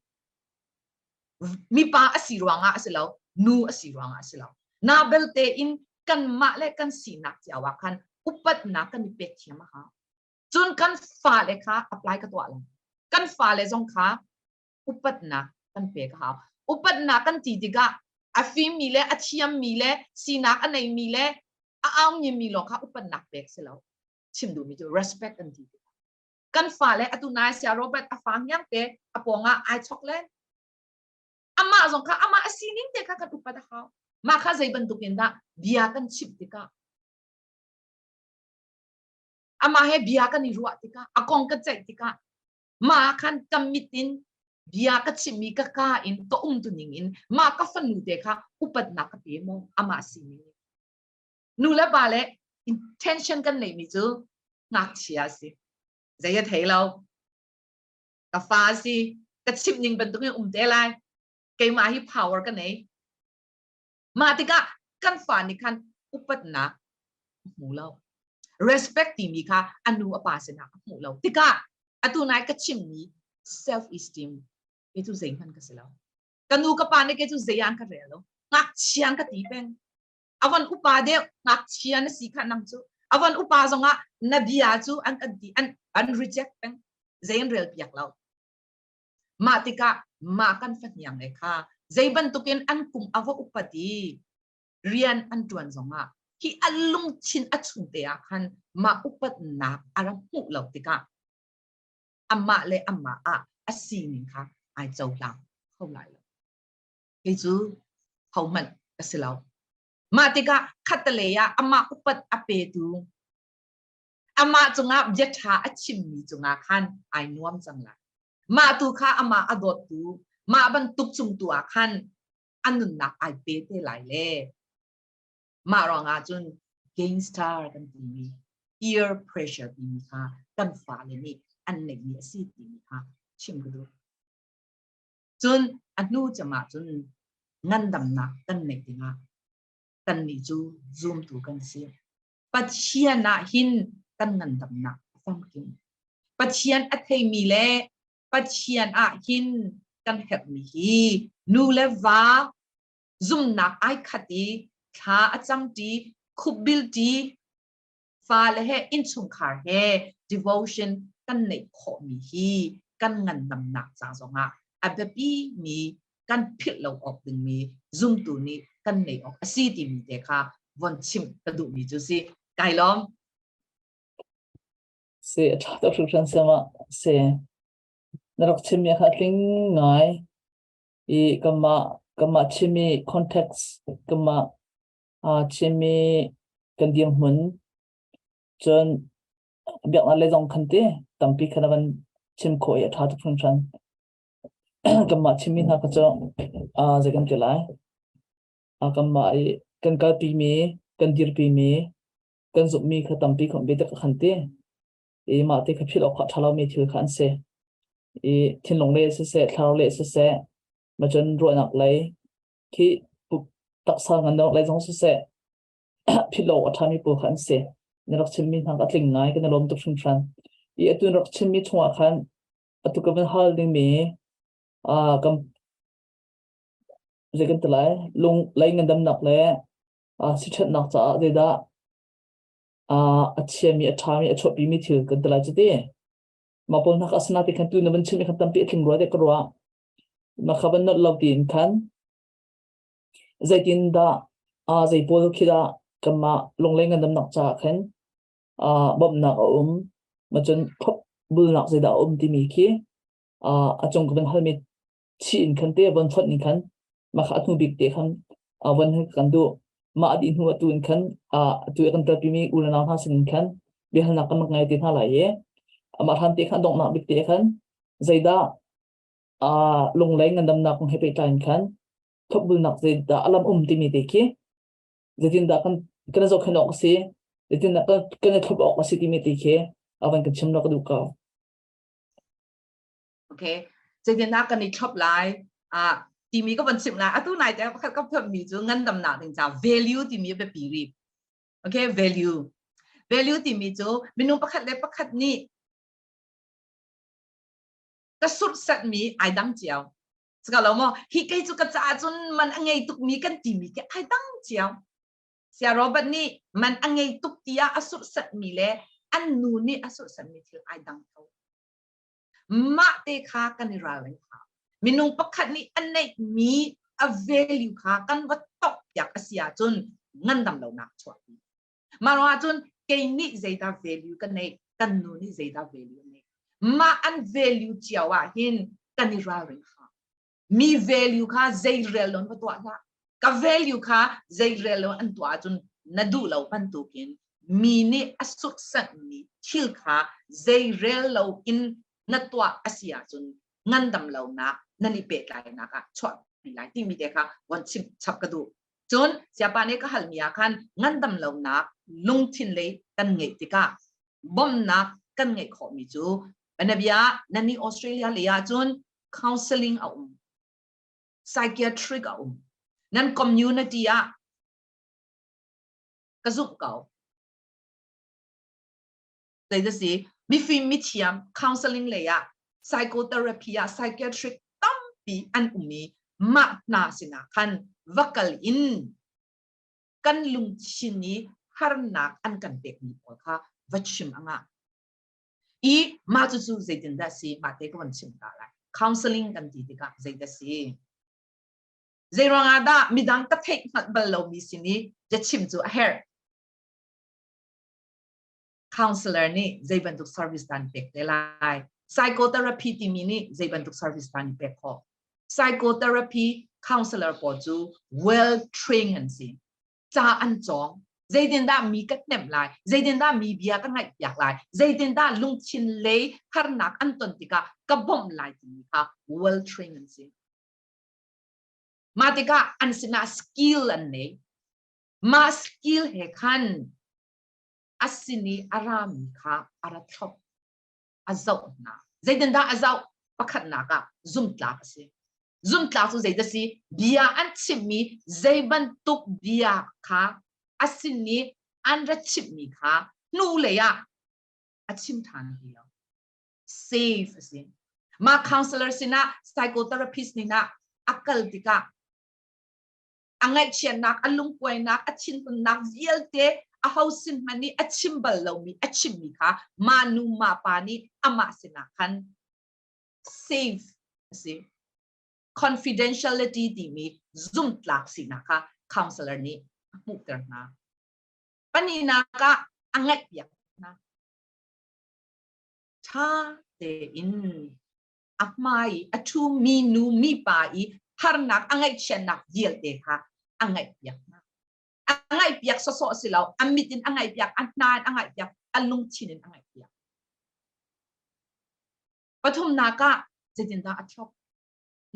Mipa a si ruangah a si lo, nu a si ruangah a si lo. Na belte in kanmah le kan sinak cia wa khan upatnak kan i pek thiam a hau. Cun kan fale kha apply ka tuah lo. Kan fale zong kha upatnak kan pek a hau. Upatnak kan ti tikah a fimmi le a thiammi le sinak a neimi le a aungimi lawng kha upatnak pek si lo. Chim duhmi cu respect an ti tikah. kan fale atu nai sia Robert a fa ngiam te a pawngah ai chok len amah zong kha amah a sining te kha kan upat a hau mah kha zei bantuk in dah bia kan chimh tikah amah he bia kan i ruah tikah a kong ka ceih tikah mah khan ka mit in bia ka chimmi ka ka in ka um tuning in mah ka fanu te kha upatnak ka pe maw amah sining nu le pa le intention kan neihmi cu ngakchia a si zei a thei lo ka fa a si ka chimh ning bantukin um te lai keimah hi power ka nei mah tikah kan fa nih khan upatnak hmu lo respect timi kha a nu a pa sinah a hmu lo tikah atu nai ka chimmi self esteem ke cu zei hman ka si lo ka nu ka pa ne ke cu zei an ka rel lo ngak chiang ka ti peng Avan upa deuh ngakchia na si kha nang cu avan upa zongah na bia cu an kan ti an an reject peng zein rel piak lo mah tikah mah kan fahniang le kha zei bantukin an kum ava upati rian an tuan zongah hi allung chin a chung te ah khan ma upatnak ara hmuh lo tikah amma le amma ah a sining kha ai cohlang kho lai lo Hi cu hohmanh a si lo. Mah tikah khattelei ah amah upat a petu amah cungah biaṭha a chimmi cungah khan ai nuam cang lai. Mah tu kha amah a dawttu mah bantuk cung tu ah khan a nunnak ai pe te lai le mah ruangah cun gain star kan timi peer pressure timi kha kan fale nih an neihmi a si timi kha chim ka duh. Cun a hnu cem ahcun ngandamnak kan neih dingah kannih cu zumtu kan si. Pathian ah hin kan ngandamnak a famkim. Pathian a theimi le Pathian ah hin kan herhmi hi nu le va zumnak ai khat i thla a cang ṭi, khupbil ṭi, fale he innchungkhar he devotion kan neih khawhmi hi kan ngandamnak ca zongah a biapimi kan philh lo awk dingmi zumtu nih kan neih awk a si timi te kha von chim ka duhmi cu si kai lom si a tha tuk hrimhrim se ma se na rak chim ya kha tling ngai i kama kama chimi context kama aa chimmi kan dirhmun cun biaknak lei zong khan ti tampi khan a van chim khawh i a ṭha tuk hringhran. kanmah chimmi hna kha cu aa zei kan ti lai aa kanmah i kan kalpimi kan dirpimi kan zumhmi kha tampi khawmh biatak a khan ti i mah ti kha philh awk a ṭha lomi thil kha an si i thinlung le siseh thlarau le siseh macun ruahnak lei khi taksa ngan nok lai zong siseh philo a thami pu khan se na rak chimmi hna a tling ngai kan lom tuk hringhran i atun rak chimmi chungah khan atu ka van hal dingmi a kan zei kan talai lung lei ngandamnak le a sithatnak caah zeidah a a chiami a thami a chuahpimi thil kan talai cuti ma paul hnak asana ti khan tu na van chimmi khan tampi a tling rua de ka ruah Makhaban not lo tin khan zeitin dah uh, zei pawl khi dah kanmah lungleng ngandam nak ca khan uh, bawmnak a um macun phop bulnak zei dah a um timi khi uh, a cung kan hal mit chi in khan te von chot ni khan makha athu bik te khan awan kan du ma adi hnu atu in khan atu kan tel pimi ulana ha sin khan behal nak kan ngai te na lai ye ama han te khan dong na bik te khan zaida Ah lunglei ngandamnak kong he pehtlai in khan thukbulnak zeidah a lam um timi te khi zeitindah kan kan i zohkhenh awk a si zeitindah kan, kan i thlop awk a si timi te khi avan kan chim lo ka duh ko. Okay. Zeitindah kan i thlop lai ah timi ka van chim lai atu nai te pakhat ka pham mi cu ngandamnak ding ca value timi biapi ri. Okay, value. Value timi cu minung pakhat le pakhat nih ka surhsatmi ai dang cio ka lo maw hi kei cu ka caah cun man a ngei tukmi kan timi khi ai dang cio sia robert nih man a ngei tuk tiah a surhsatmi le an nu nih a surhsatmi thil ai dang ko mah te kha kan i ralring hna minung pakhat nih a neihmi a value kha kan va top piak a si ahcun ngandam lonak chuahpi Mah ruangah cun kei nih zeidah value ka neih, kan nu nih zeidah value neih. Mah an value cio ahhin kan i ralring hram. Mi value kha zeirel loin va tuah hlah. Ka value kha zeirel loin an tuah ahcun na duh lo bantukin mi nih a suksanhmi thil kha zeirel loin na tuah a si ahcun ngandam lonak nan i pehtlainak ah chuah lai timi te kha von chim chap ka duh. Cun Siapa nih ka halmi ah khan ngandam lonak lungthin lei kan ngeih tikah bawmhnak kan ngeih khawhmi cu bianabia na nih Australia lei ahcun counseling a um, psychiatric a um. Nan community ah ka zumh ko. Tlei na si, mifim mithiam counseling lei ah psychotherapy ah psychiatric tampi an um i mah hna sinah khan va kal in kan lungthin i harnak an kan pekmi pawl kha va chim anga i mah cucu zeitindah si mah te ka van chim ta lai counseling kan ti tikah zeidah si zeiruang ah dah midang ka theih hngalh bal lomi sin i biachim cu a herh counselor nih zei bantuk service dan pek te lai psychotherapy timi nih zei bantuk service dan pek khawh psychotherapy counselor pawl cu well trained an si ca an cawng zeitindah mi ka hnemh lai zeitindah mi bia ka ngaih piak lai zeitindah lungthin lei harnak an ton tikah ka bawmh lai timi kha well trained an si mah tikah an sinah skill an nei mah skill he khan a sin i a rami kha a ra thlop, a zoh hna. Zeitindah a zoh? Pakhatnak ah zumtlak a si. Zumtlak cu zeidah si? Bia an chimhmi zei bantuk bia kha a sin i an ra chimhmi kha hnulei ah a chim ṭhan ti lo. Save a si. Mah counselor sinah, psychotherapist nih a kal tikah a ngaihchiatnak, a lungkuainak, a thinhunnak vialte aho sin hmanh nih a chim bal lomi, a chimmi kha ma nu ma pa nih amah sinah khan save a si. Confidentiality timi zumtlak sinak kha counselor nih a hmuhter hna. Paninak ah a ngaihpiak hna. Ṭha tein a hmai i a ṭhumi nu mipa i harnak a ngaihchiatnak vialte kha a ngaihpiak hna. A ngaihpiak sawsawh si lo, a mit in a ngaihpiak, a hna in a ngaihpiak, a lungthin in a ngaihpiak. Pathumnak ah, zeitindah a thlop?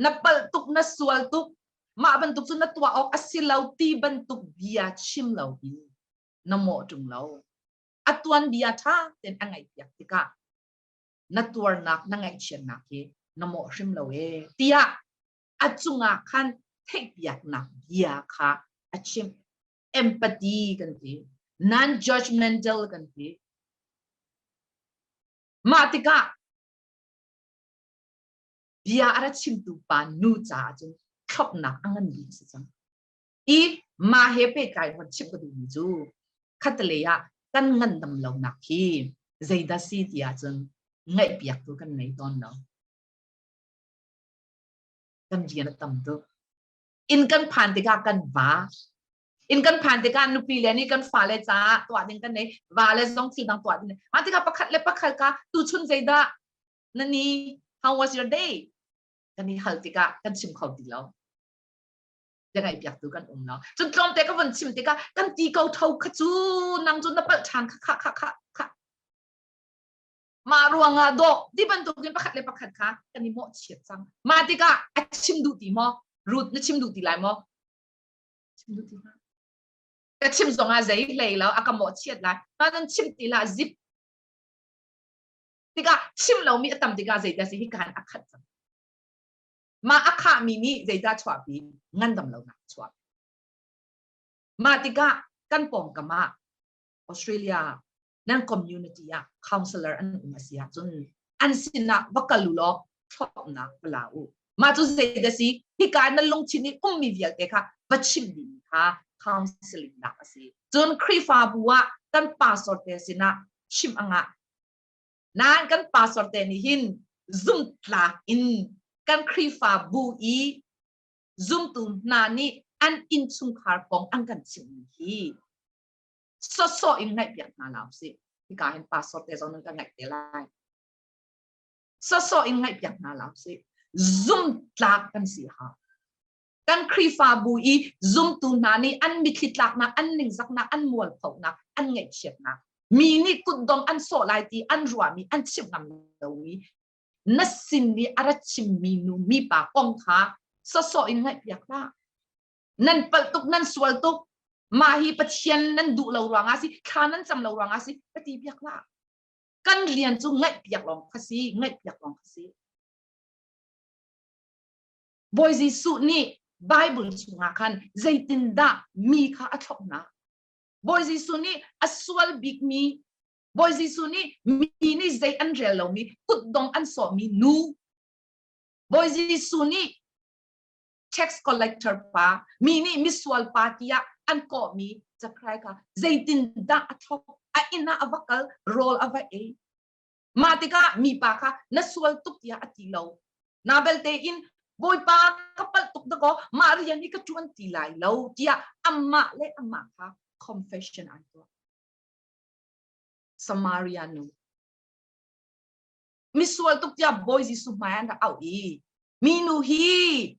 Na palh tuk, na sual tuk, mah bantuk cu na tuah awk a si lo ti bantuk bia chim lo hi na mawh ṭung lo. A tuanbia ṭha tein a ngaihpiak tikah na tuarnak na ngaihchiatnak hi na mawh hrim lo e tiah a cungah khan theihpiaknak bia kha a chim empathy kan ti non judgmental kan ti mah tikah bia a ra chimtu pa nu caah cun thlopnak a ngan bik si cang i mah he pehtlai hon chim ka duhmi cu khatalei ah kan ngandam lonak hi zeidah si ti ahcun ngaihpiak tu kan ngei tawn lo kan rian a tam tuk inn kan phan tikah kan va inn kan phan tikah nupi le nih kan fa le caah tuah ding kan nei va le zong thil dang tuah ding mah tikah pakhat le pakhat ka tu chun zeidah nani how was your day kan i hal tikah kan chim kho ti lo biangaihpiaktu kan um lo cun tlawmte ka von chim tikah kan ti ko tho kha cu nang cu na palh ṭhan kha kha kha kha kha mah ruangah dawh ti bantukin pakhat le pakhat kha kan i mawhchiat cang mah tikah a chim duh ti maw rut na chim duh ti lai maw chim duh ti ka chim zongah zei hlei lo a ka mawhchiat lai ma nan chim ti la zip tikah chim lomi a tam tikah zeidah si hi kan a khat cang Mah a khahmi nih zeicah chuahpi? Ngandam lonak a chuak. Mah tikah kan pawngkam ah Australia nan community ah counselor an um a si ahcun an sinah va kal u law thlawpnak va la u. Mah cu zei a si? Hika na lungthin i ummi vialte kha va chimh ding kha counseling nak a si. Cun Khrihfabu ah kan pastor te sinah chimh a ngah. Nain kan pastor te nih hin zumtlak in kan Khrihfa bu i zumtu hna nih an innchungkhar kong an kan chimmi hi sawsawh in ngaihpiak hna la si hika hin pastor te zong nan ka ngaih te lai sawsawh in ngaihpiak hna la si zumtlak kan si ha kan Khrihfabu i zumtu hna nih an mitthli tlaknak, an ningzaknak, an mualphohnak an ngaihchiatnak, mi nih kutdong an sawh lai ti an ruahmi, an chimh ngam lomi, na sin i a ra chimmi nu, mipa kong kha sawsawh in ngaihpiak hlah. Nan palh tuk, nan sual tuk, mah hi Pathian nan duh lo ruangah si, thla nan cam lo ruangah si, ka ti piak hlah. Kan rian cu ngaihpiak lawng kha si, ngaihpiak lawng kha si. Bawi Jesuh nih Baibal chungah khan zeitindah mi kha a thlopnak? Bawi Jesuh nih a sual bikmi, Bawi Jesuh nih mi nih zei an rel lomi, kutdong an sawhmi nu, Bawi Jesuh nih tax collector pa, mi nih misual pa tiah an kawhmi cakrai kha zeitindah a thlop, a inn ah a va kal, rawl a va ei, Mah tikah mipa kha na sual tuk tiah a ti lo. Na belte in Bawipa ka palh tuk dakaw mah rian hi ka ṭuan ti lai lo tiah amah le amah kha confession an tuah. Samaria nu. Misual tuk tiah Bawi Jesuh hmai an rak auh i minu hi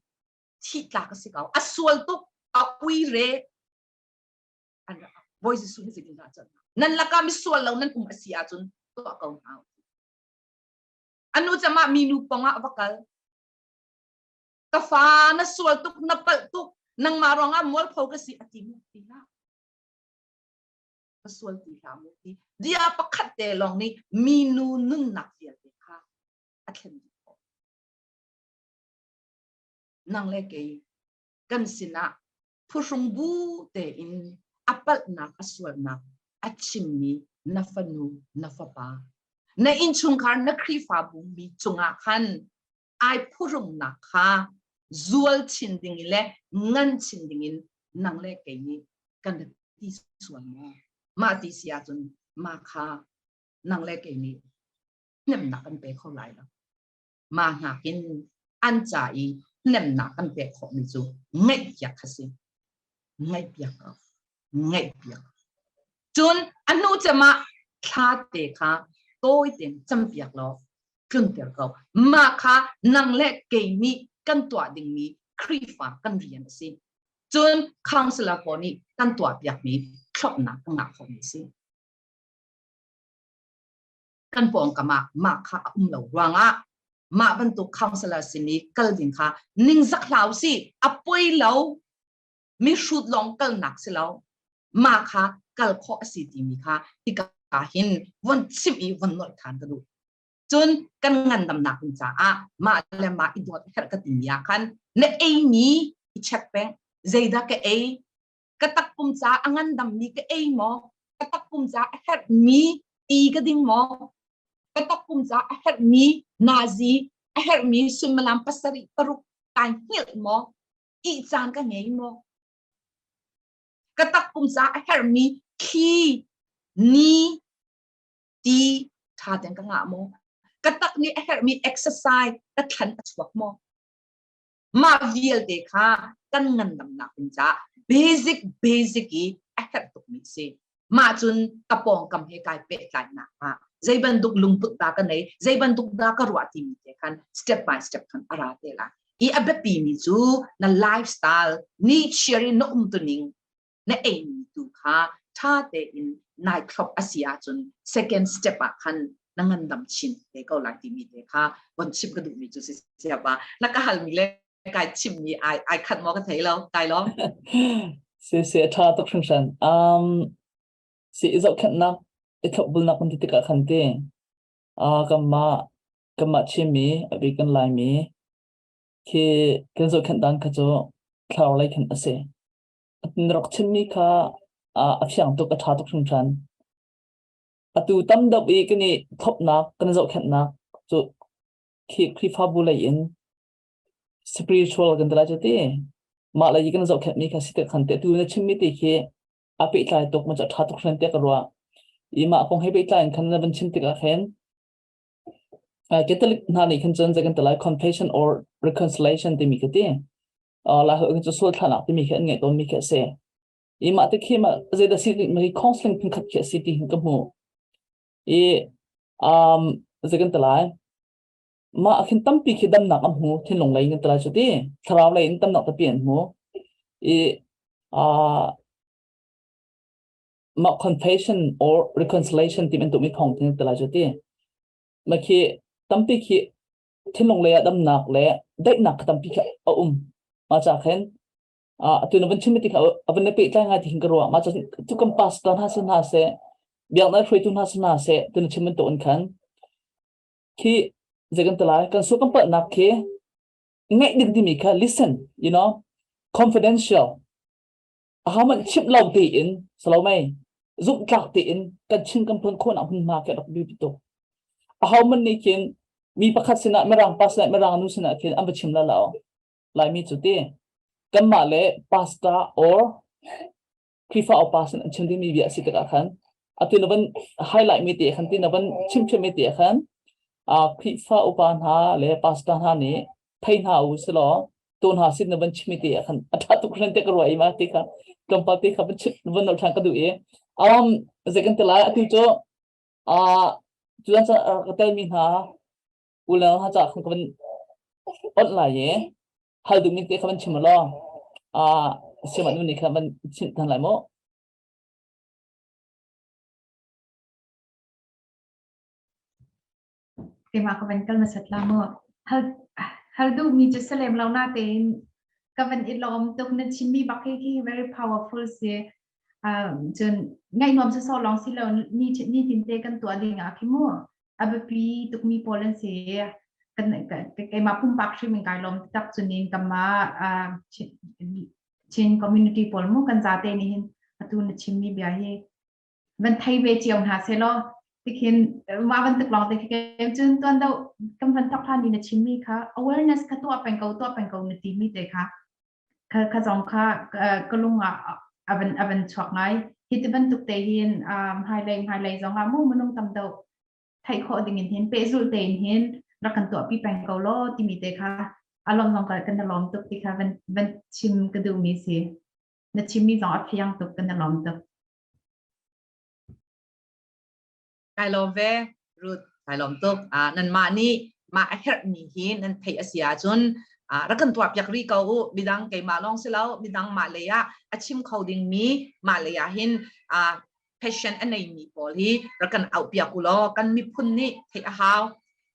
thih tlak a si ko. A sual tuk a uire an Bawi Jesuh hi zeitin dah cun nan lakah misual lo nan um a si ahcun tuah ko hna anu camah mi nu pongah va kal ka fa na sual tuk na palh tuk nangmah ruangah mualpho ka si a ti mu ti hla ka sual ti hla mu ti dia pakhat te long ni mi nu nunnak vialte kha a thlen dih nang le kei kan sinah phuhrung bu tein a palhnak a sualnak a chimmi na fanu na fapa na innchungkhar na khrihfabu mi cungah khan ai phurumnak kha zual chin ding le ngan chin dingin nang le kei nih kan ti sual maw mah ti si ahcun mah kha nang le kei nih hnemnak kan pe kho lai lo mah nakin an ca i hnemnak an pek khawhmi cu ngaihpiak a si ngaihpiak ngaihpiak cun a hnu cemah thla te kha tawi ten campiak law tlunter ko mah kha nang le kei nih kan tuah dingmi Khrihfa kan rian a si cun counselor pawl nih kan tuahpiakmi thlopnak kan ngah khawhmi a si kan pawngkam ah mah kha a um lo ruangah mah bantuk counselor simi kal ding kha ningzak hlau si a poi lo mi hrut lawng kalnak si lo ma kha kal khawh a si timi kha hika hin von chim i von nolh than ka duh cun kan ngandamnak ding caah mah le mah i dawt herh ka timi ah khan na ei ni i check peng zeidah ka ei ka takpum ca a ngandam mi ka ei maw ka takpum ca a herh mi ti ka ding maw ka takpum ca a herh mi nazi a herh mi sulmalam pasarih paruk kai hngilh maw ti caan ka ngei maw ka takpum ca a herh mi thli ni ti tha ten ka nga maw ka tak ni a herh mi exercise ka thlan a chuak maw mah vialte kha kan ngandamnak ding caah basic basic i a herh tukmi si mah cun ka pawngkam he kai pehtlainak ah zei bantuk lungput dah ka nei zei bantuk dah ka ruah timi te khan step by step khan ara te la i a biapi mi cu na lifestyle ni shiri na um tuning na eimi tu kha ṭha tein nai thlop a si ahcun second step ah khan na ngandam chin te ko lai timi te kha von chim ka duhmi cu si siapa na ka halmi le kai chimmi ai ai khat mo ka thei lo kai lo si si a ṭha tuk hringhran um si i zohkhenhnak i thlopbulnak kan ti tikah khan ti uh, kanmah kanmah chimi abi kan laimi khi kan zohkhenh dan kha cu thlarau lei khan a si na rak chimmi kha a fiang tuk a ṭha tuk hringhran. Atu tam deuh i kan i thlopnak kan zohkhenhnak cu Khrihfabu lei in spiritual kan ti lai cu ti. Mah lei i kan zohkhenhmi kha si te khan te tu na chimmi ti khi a pehtlai tuk ma cu a ṭha tuk hran te ka ruah. I mah kong he pehtlai in khan na van chim tikah khin Catholic hna nih khan cun zei kan ti lai confession or reconciliation timi ka ti. La hal cu sual thlanak timi khi an ngai tawn mi khi a si. I mah te khi ma zei da si mi counseling phun khat khi a si ti hin ka hmu. I um zei kan ti lai mah khin tampi khi damnak an hmu thinlung lei in tala chu ti thlarau lei in tamnak tapi an hmu i a mah confession or reconciliation ti bantuk mi thong tin tala ju ti ma khi tampi khi thinlung le damnak le daihnak tampi kha a um ma cha khen a tu na van chim ti kha avan ne pe tlai nga ti hin karwa ma cha tu kam pass ta na se na se biang na hroi tu na se na se tu na chim man to an khan khi zekan talai kan su kam pa nak khi ngai dik di mi kha listen you know confidential ahohmanh chimh lo tein Salome zumhtlak tein kan chin kan phun khawnak hmunhma kan rak bi tuk ahoman nih khin mi pakhat sinah mirang pa sinah mirang nu sinah khin an va chim la lao laimi cu ti kanmah le pasta or krifa o pasin an chin dimi bia si tikah khan ati lavan highlight mi te khan ti lavan chim chim mi te khan a krifa upa hna le pasta hna nih phei hna u silo to hna sin na van chimi te khan a tha tuk hran te ka ruai ma te kha tlawmpal te kha van van no than ka du e um ze kan te lai atu cho a tu an ka tel mi hna ulang ha cha khan ka van on lai ye hal du mi te kha van chim lo a seman ni kha van chin than lai mo keimah ka van kal hmasat la mu hal duhmi cu si lem lo na tein ka van i lawm tuk na chimmi bak hi hi very powerful si cun ngaih nuam si so long si lo ni tin te kan tuah ding ah khi mu a biapi tukmi pawl an si keimah pumpak hrim in kai lawm tak cunin kama Chin community pawl mu kan zate nih hin atu na chimmi bia hi van thei ve cio hna se law tikhin wa van tuk lawng te ke cun tuan do kam van thok hlan ni na chim mi kha awareness kha tu peng ko tu peng ko na ti mi te kha kha kha zong kha ka lung ah avan avan chuak ngai hi ti bantuk te hin hai lei hai lei zong ah mu manung tam do thai kho ding in hin pe zul te in hin rakan tu pi peng ko lo ti mi te kha alom zong ka kan lom tuk ti kha van van chim ka du mi si na chim mi zong a phiang tuk kan lom tuk Kai lawm ve, Ruth. Kai lawm tuk. Uh, nanmah nih mah a herhmi hi nan theih a si ahcun uh, rak kan tuah piak rih ko u. Midang keimah lawng si lo, midang mah lei ah a chim kho dingmi mah lei ah hin uh, passion a neimi pawl hi rak kan auh piak u law kan miphun nih theih a hau.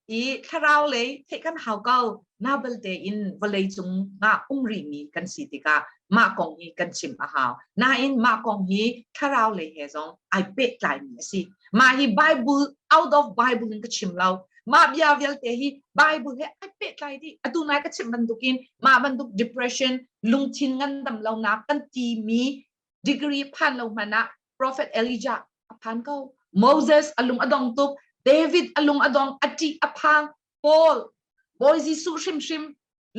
i thlarau lei theih kan hau ko na belte in vawlei cung nga um rih mi kan si tikah mah kong hi kan chim a hau nain mah kong hi thlarau lei he zong ai pehtlai mi a si mah hi bible out of bible in ka chim lo mah bia vialte hi bible he ai pehtlai di atu nai ka chim bantukin mah bantuk depression lungthin ngandam lonak kan ti mi degree phan lo hmanh ah prophet elijah a phan ko moses alung adong tuk david alung adong ati aphang paul bawi jesuh hrimhrim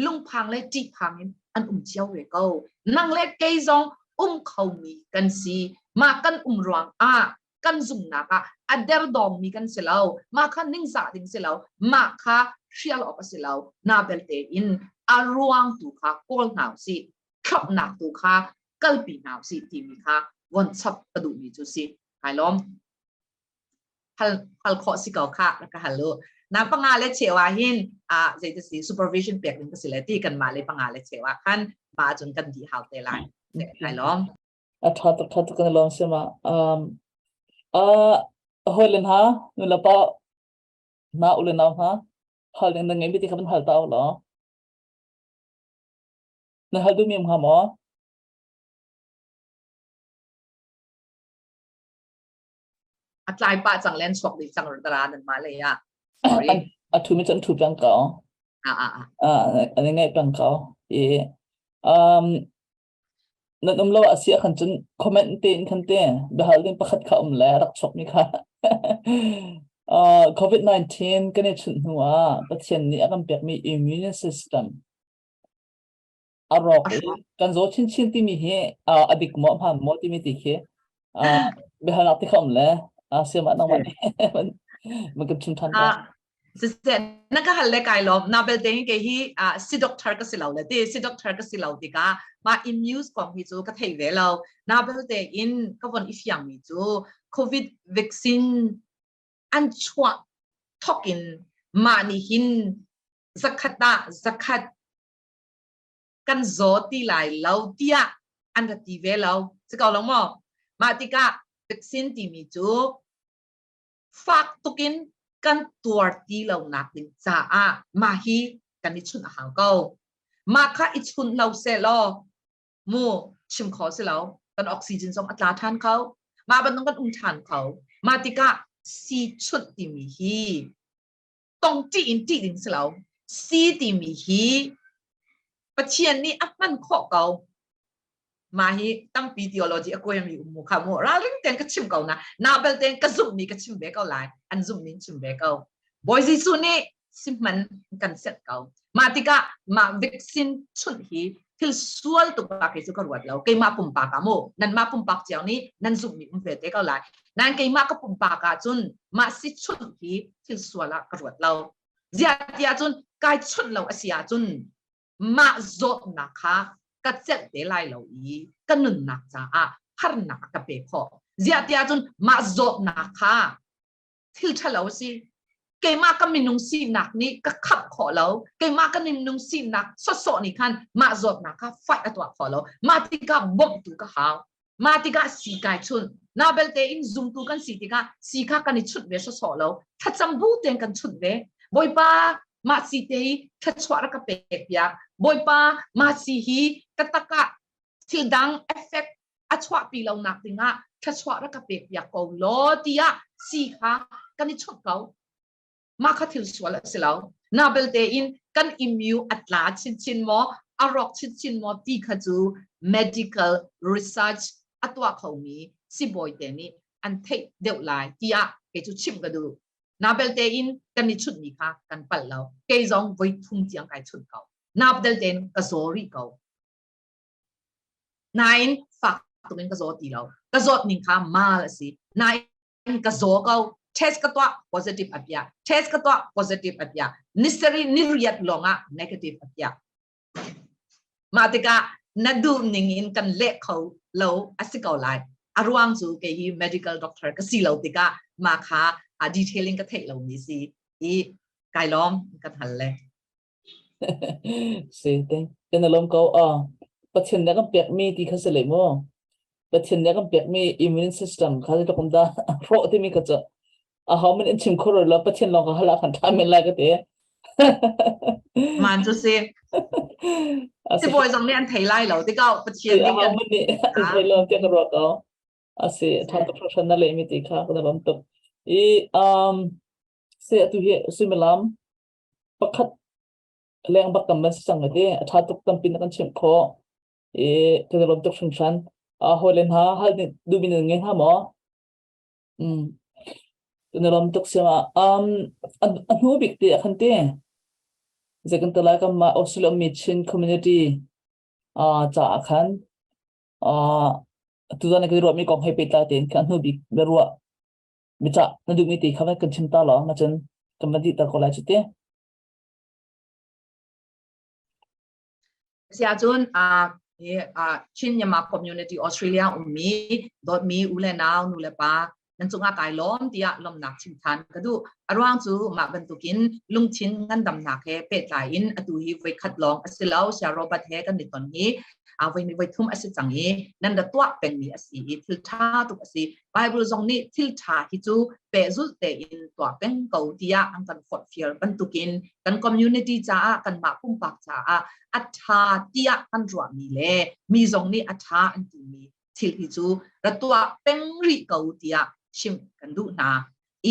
lungphang le ṭihphang in an um cio ve ko nang le kei zong um khomi kan si mah kan um ruang ah kan zumnak ah a derdawngmi kan si lo mah kha ningzah ding si lo mah kha hrial awk a si lo na belte in a ruang tu kha kawl hna u sih khamhnak tu kha kalpi hna usih timi kha von chap ka duhmi cu si hai lawm hal hal khawh si ko kha ka hal u na panga le chewa hin a zei si supervision pek ding ka si le ti kan mah le panga le chewa khan ma cun kan di hau te lai hai lawm a tha tak tha tak lawng si ma um uh hoi len ha nu la pa na u le nau ha hal den ngai bi ti khaban hal ta lo Na hal duhmi hnga maw? A tlai pah cang len chuak dih cang tara nan mah lei ah. Sorry. An a thumi cun thu pang ko. Ah ah ah. Ah an ngai pang ko. I um nan um lo asia khan cun comment te in khan te behal din pakhat kha um le rak chok mi kha. Uh, COVID-19 kan i chun hnu ah Pathian nih a kan pek mi immune system A rawk i kan zaw chinchin timi hi uh, a dik maw hman maw timi ti khi uh, biahalnak ti kha um le uh, siamah nangmah nih man kan chim than ko. siseh na ka hal le kai lo na belte ke hi si doctor ka si lo le ti si doctor ka si lo ti ka ma immune kong hi chu ka thei ve lo na belte in ka von i fiang mi chu covid vaccine an chuah thokin ma ni hin zakhat ah zakhat kan zaw ti lai lo tiah an ra ti ve lo si ko lo maw mah tikah vaksin timi cu fak tukin kan tuar ti lonak ding caah mah hi kan i chunh a hau ko mah kha i chunh lo se law mu chim kho si lo kan oxygen zong a tla than kho mah bantuk kan um than kho mah tikah si chunh timi hi tong ṭih in ṭih ding si lo. Si timi hi Pathian nih a hman khawh ko. Mah hi tampi theology a kuai mi ummu kha mu ralring ten ka chim ko na na bel ten ka zumh mi ka chim ve ko lai an zumh ning chim ve ko Bawi Jesuh nih si hman kan set ko mah tikah mah vaccine chunh hi thil sual tuk la kei cu ka ruat lo keimah pumpak ah mu nanmah pumpak ciao nih nan zumhmi um ve te ko lai nan keimah ka pumpak ah cun mah si chunh hi thil sual ah ka ruat lo ziatia cun kai chunh lo asi ah cun mah zawtnak kha ka celh te lai lo i ka nunnak caah harnak ka pe khawh ziatia cun mah zawtnak kha thil ṭhalo a si. Keimah ka minung sinak nih ka khamh khawh lo. Keimah ka minung sinak sawsawh nih khan mah zawtnak kha fight a tuah khawh lo. Mah tikah bawmhtu ka hau. Mah tikah si kai chunh. Na belte in zumtu kan si tikah si kha kan i chunh ve sawsawh lo. Thlacam bu tein kan chunh ve. Bawipa, mah si te i thluachuah rak ka pek piak. Bawipa, mah si hi ka takah thil dang effect a chuahpi lonak dingah thluachuah rak ka pekpiak ko law tiah si kha kan i chawnh ko mah kha thil sual a si lo na belte in kan immune a tla chinchin maw a rawk chinchin maw ti kha cu medical research a tuah khomi sibawi te nih an theih deuh lai tiah kei cu chim ka duh na belte in kan i chunhmi kha kan pal lo kei zong voi thum tiang kai chunh ko na belte in ka zaw rih ko Nain fak tumin ka zawt ti lo. Ka zawt ning kha mal a si. Nain ka zaw ko. Test ka tuah positive a pia. Test ka tuah positive a pia. Nisari ni riat longah negative a pia. Mah tikah na duh ning in kan leh kho lo a si ko lai. A ruang cu kei hi medical doctor ka si lo tikah ma kha a detailing ka theih lo mi si i kai lawm kan hal le. Si te. Kan alom ko ah Pathian nih kan pekmi ti kha si le mu. Pathian nih kan pekmi immune system kha si tluk da ro timi ka cu. A hau min in chim khor la Pathian long ka hala kan tham men lai ka te. Man cu si. Ti bawi zong nih an thei lai lo. Ti kau Pathian nih kan thei lo tiak ruak ko. Asi thang ka professional le mi ti kha kana bam tuk. I um se atu hi sumilam pakhat lengbak tam an si cang ati a ṭha tuk tampi na kan chimh khawh i kan i lawm tuk hringhran uh, hawile hna hal nih duhmi nan ngei hnga maw mm. kan i lawm tuk siam ah um, a hnu bik ti a kan ti zei kan talai kam ma Australia mi Chin community uh, ca a khan uh, tu zan kan i ruah mi kong hei pehtlai tein ka hnu bik na ruah Micah, na duhmi ti kha va kan chim ta lawng ahcun kan va dih ta ko lai cu ti. Siahcun ah Chin-Myanmar community Australia ummi dawtmi u le nau nu le pa nan cungah kai lawm tiah lawmnak chim than ka duh. A ruang cu mah bantukin lungthin ngandamnak he pehtlai in atu hi voi khat lawng a si lo sia Robert he kan i ton hi a voi ni voi thum a si cang i nan ra tuah pengmi a si i thil tha tuk a si Bible zong nih thil ṭha hi cu pehzulh tein tuah peng ko tiah an kan forhfial bantukin kan community caah kanmah pumpak caah a ṭha tiah kan ruahmi le mi zong nih a ṭha an timi thil hi cu ra tuah peng rih ko tiah chim kan duh hna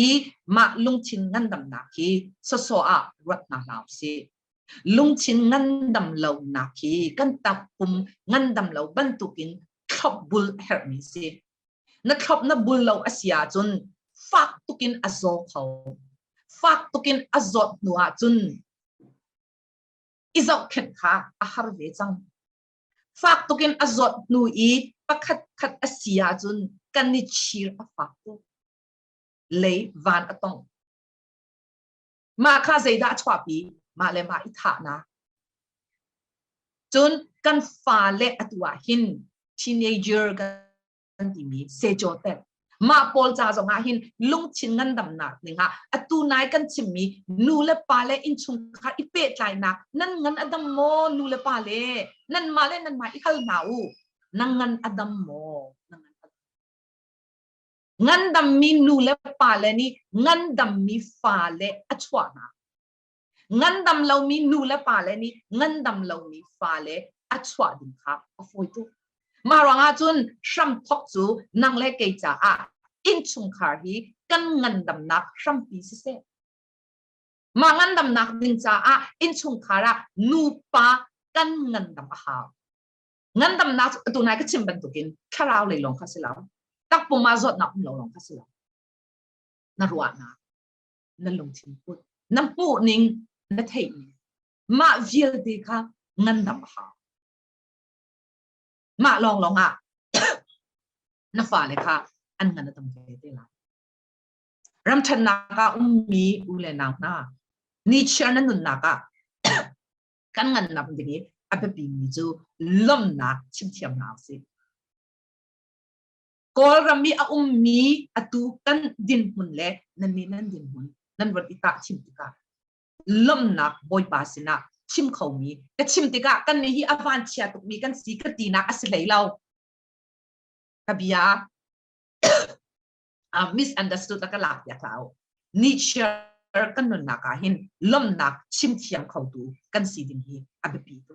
i mah lungthin ngandamnak hi soso ah ruat hna hna usih lungthin ngandam lonak hi kan takpum ngandam lo bantukin thlop bul herhmi si na thlop na bul lo a si ahcun fak tukin a zaw kho fak tukin a zawt hnu ahcun i zohkhet kha a har ve cang fak tukin a zawt hnu i pakhat khat a si ahcun kan i chir a fak tuk lei van a tong Mah kha zeidah a chuahpi? Mah le mah i thahnak. Cun kan fale atu ah hin teenager kan timi secote mah pawl ca zong ah hin lungthin ngandamnak ning ah atu nai kan chimmi nu le pa le innchungkhar i pehtlainak nan ngan adam maw nu le pa le nan mah le nan mah i hal hna u nan ngan adam maw nan ngan adam ngandammi nu le pale nih ngandammi fale a chuah hna. Ngandam lomi nu le pale nih ngandam lomi fale a chuah ding kha a fawi tuk. Mah ruangah cun hramthok cu nang le kei caah innchungkhar hi kan ngandamnak hrampi siseh. Mah ngandamnak ding caah innchungkhar ah nupa kan ngandam a hau. ngandamnak cu atu nai ka chim bantukin thlarau lei lawng kha si lo takpum ah zawtnak um lo lawng kha si lo na ruahnak na lungthin put na hmuhning na theihning mah vialte kha ngandam a hau mah lawng lawng ah na fale kha an ngan a tam ve te lai ramthannak ah ummi u le nau hna nichiar na nunnak ah kan ngannak ding i a biapimi cu lawmnak chimthiam hna usih. Kawlram i a ummi atu kan dinhmun le nannih nan dinhmun nan rat i tah chim tikah lawmnak bawipa sinah chim khomi ka chim tikah kannih hi a vanchia tukmi kan si ka tinak a si hlei lo. Ka bia uh, misunderstood a ka lak piak lau Nietzsche kan nunnak ah hin lomnak chimthiam kho tu kan si ding hi a biapi tu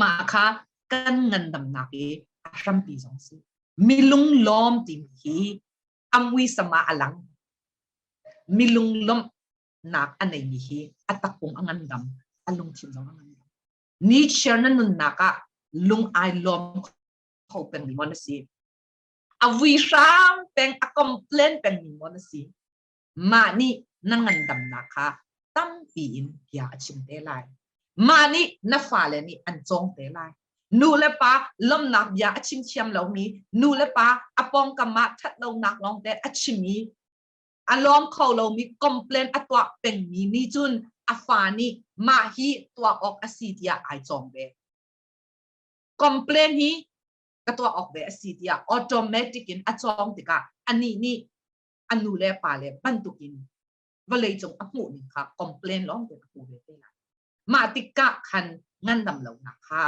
ma kha kan ngandamnak i a hrampi zong si milung lom tim hi angwi sama alang milung lom nak anei mi hi atakung angandam alung thin zong angandam Nietzsche na nunnak ah lung ai lom kho peng mi mon si a vui hrang peng a complain pengmi maw na si mah nih na ngandamnak kha tampi in bia a chim te lai mah nih na fale nih an cawng te lai nu le pa lomnak bia a chim thiam lomi nu le pa a pawngkam ah ṭhatlonak lawng te a chim i a lawm kho lomi complain a tuah pengmi nih cun a fa nih mah hi tuah awk a si tiah ai cawm ve complain hi ka tuah awk ve a si tiah automatic in a cawng tikah anih nih a nu le pa le bantukin vawleicung a hmuh ning kha complain lawng tein a hmu ve te lai. Mah tikah khan ngandam lonak kha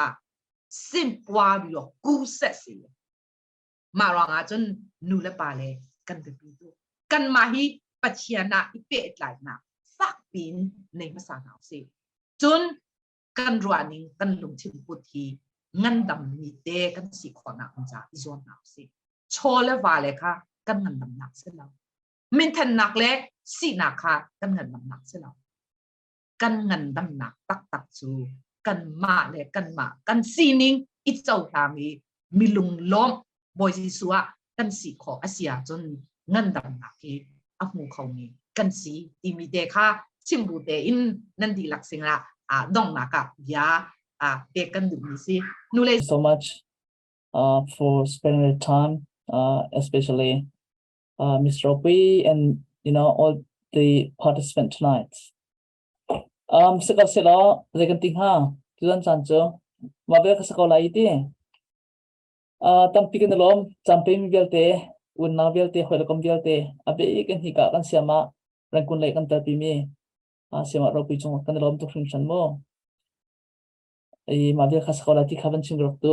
simpuario ku se si. Mah ruangah cun nu le pa le kan biapi tu. Kanmah hi Pathian ah i pehtlainak fakpi in nei hmasa hna u si. Cun kan ruahning kan lungthin put hi ngandam ni te kan si khawnak ca i zuamnak si chaw le va le kha kan ngandamnak si lo minthannak le sinak kha kan ngandamnak si lo kan ngandamnak taktak cu kan mah le kan mah kan sining i cohlang i mi lung lawm Bawi Jesuh ah kan si khawh a si ahcun ngandamnak hi a hmu khomi kan si timi te kha chimbu tein nan dihlak sinah ah donghnak ah bia ah pek kan duhmi si. Nulei so much uh, for spending the time, uh, especially uh, Ms. Ropi and you know all the participants tonight. Um, sikor silo, zekan ti ha, tuan chan chu, mabel ka sako lai iti. tampi kan i lawm camping vialte unau vialte hawi kom vialte a bik in hika kan siam ah rangkun lei kan telpi mi siam ah ropi cung kan i lawm tuk hringhran mu i mah vial kha sa ko la ti kha van chim rak tu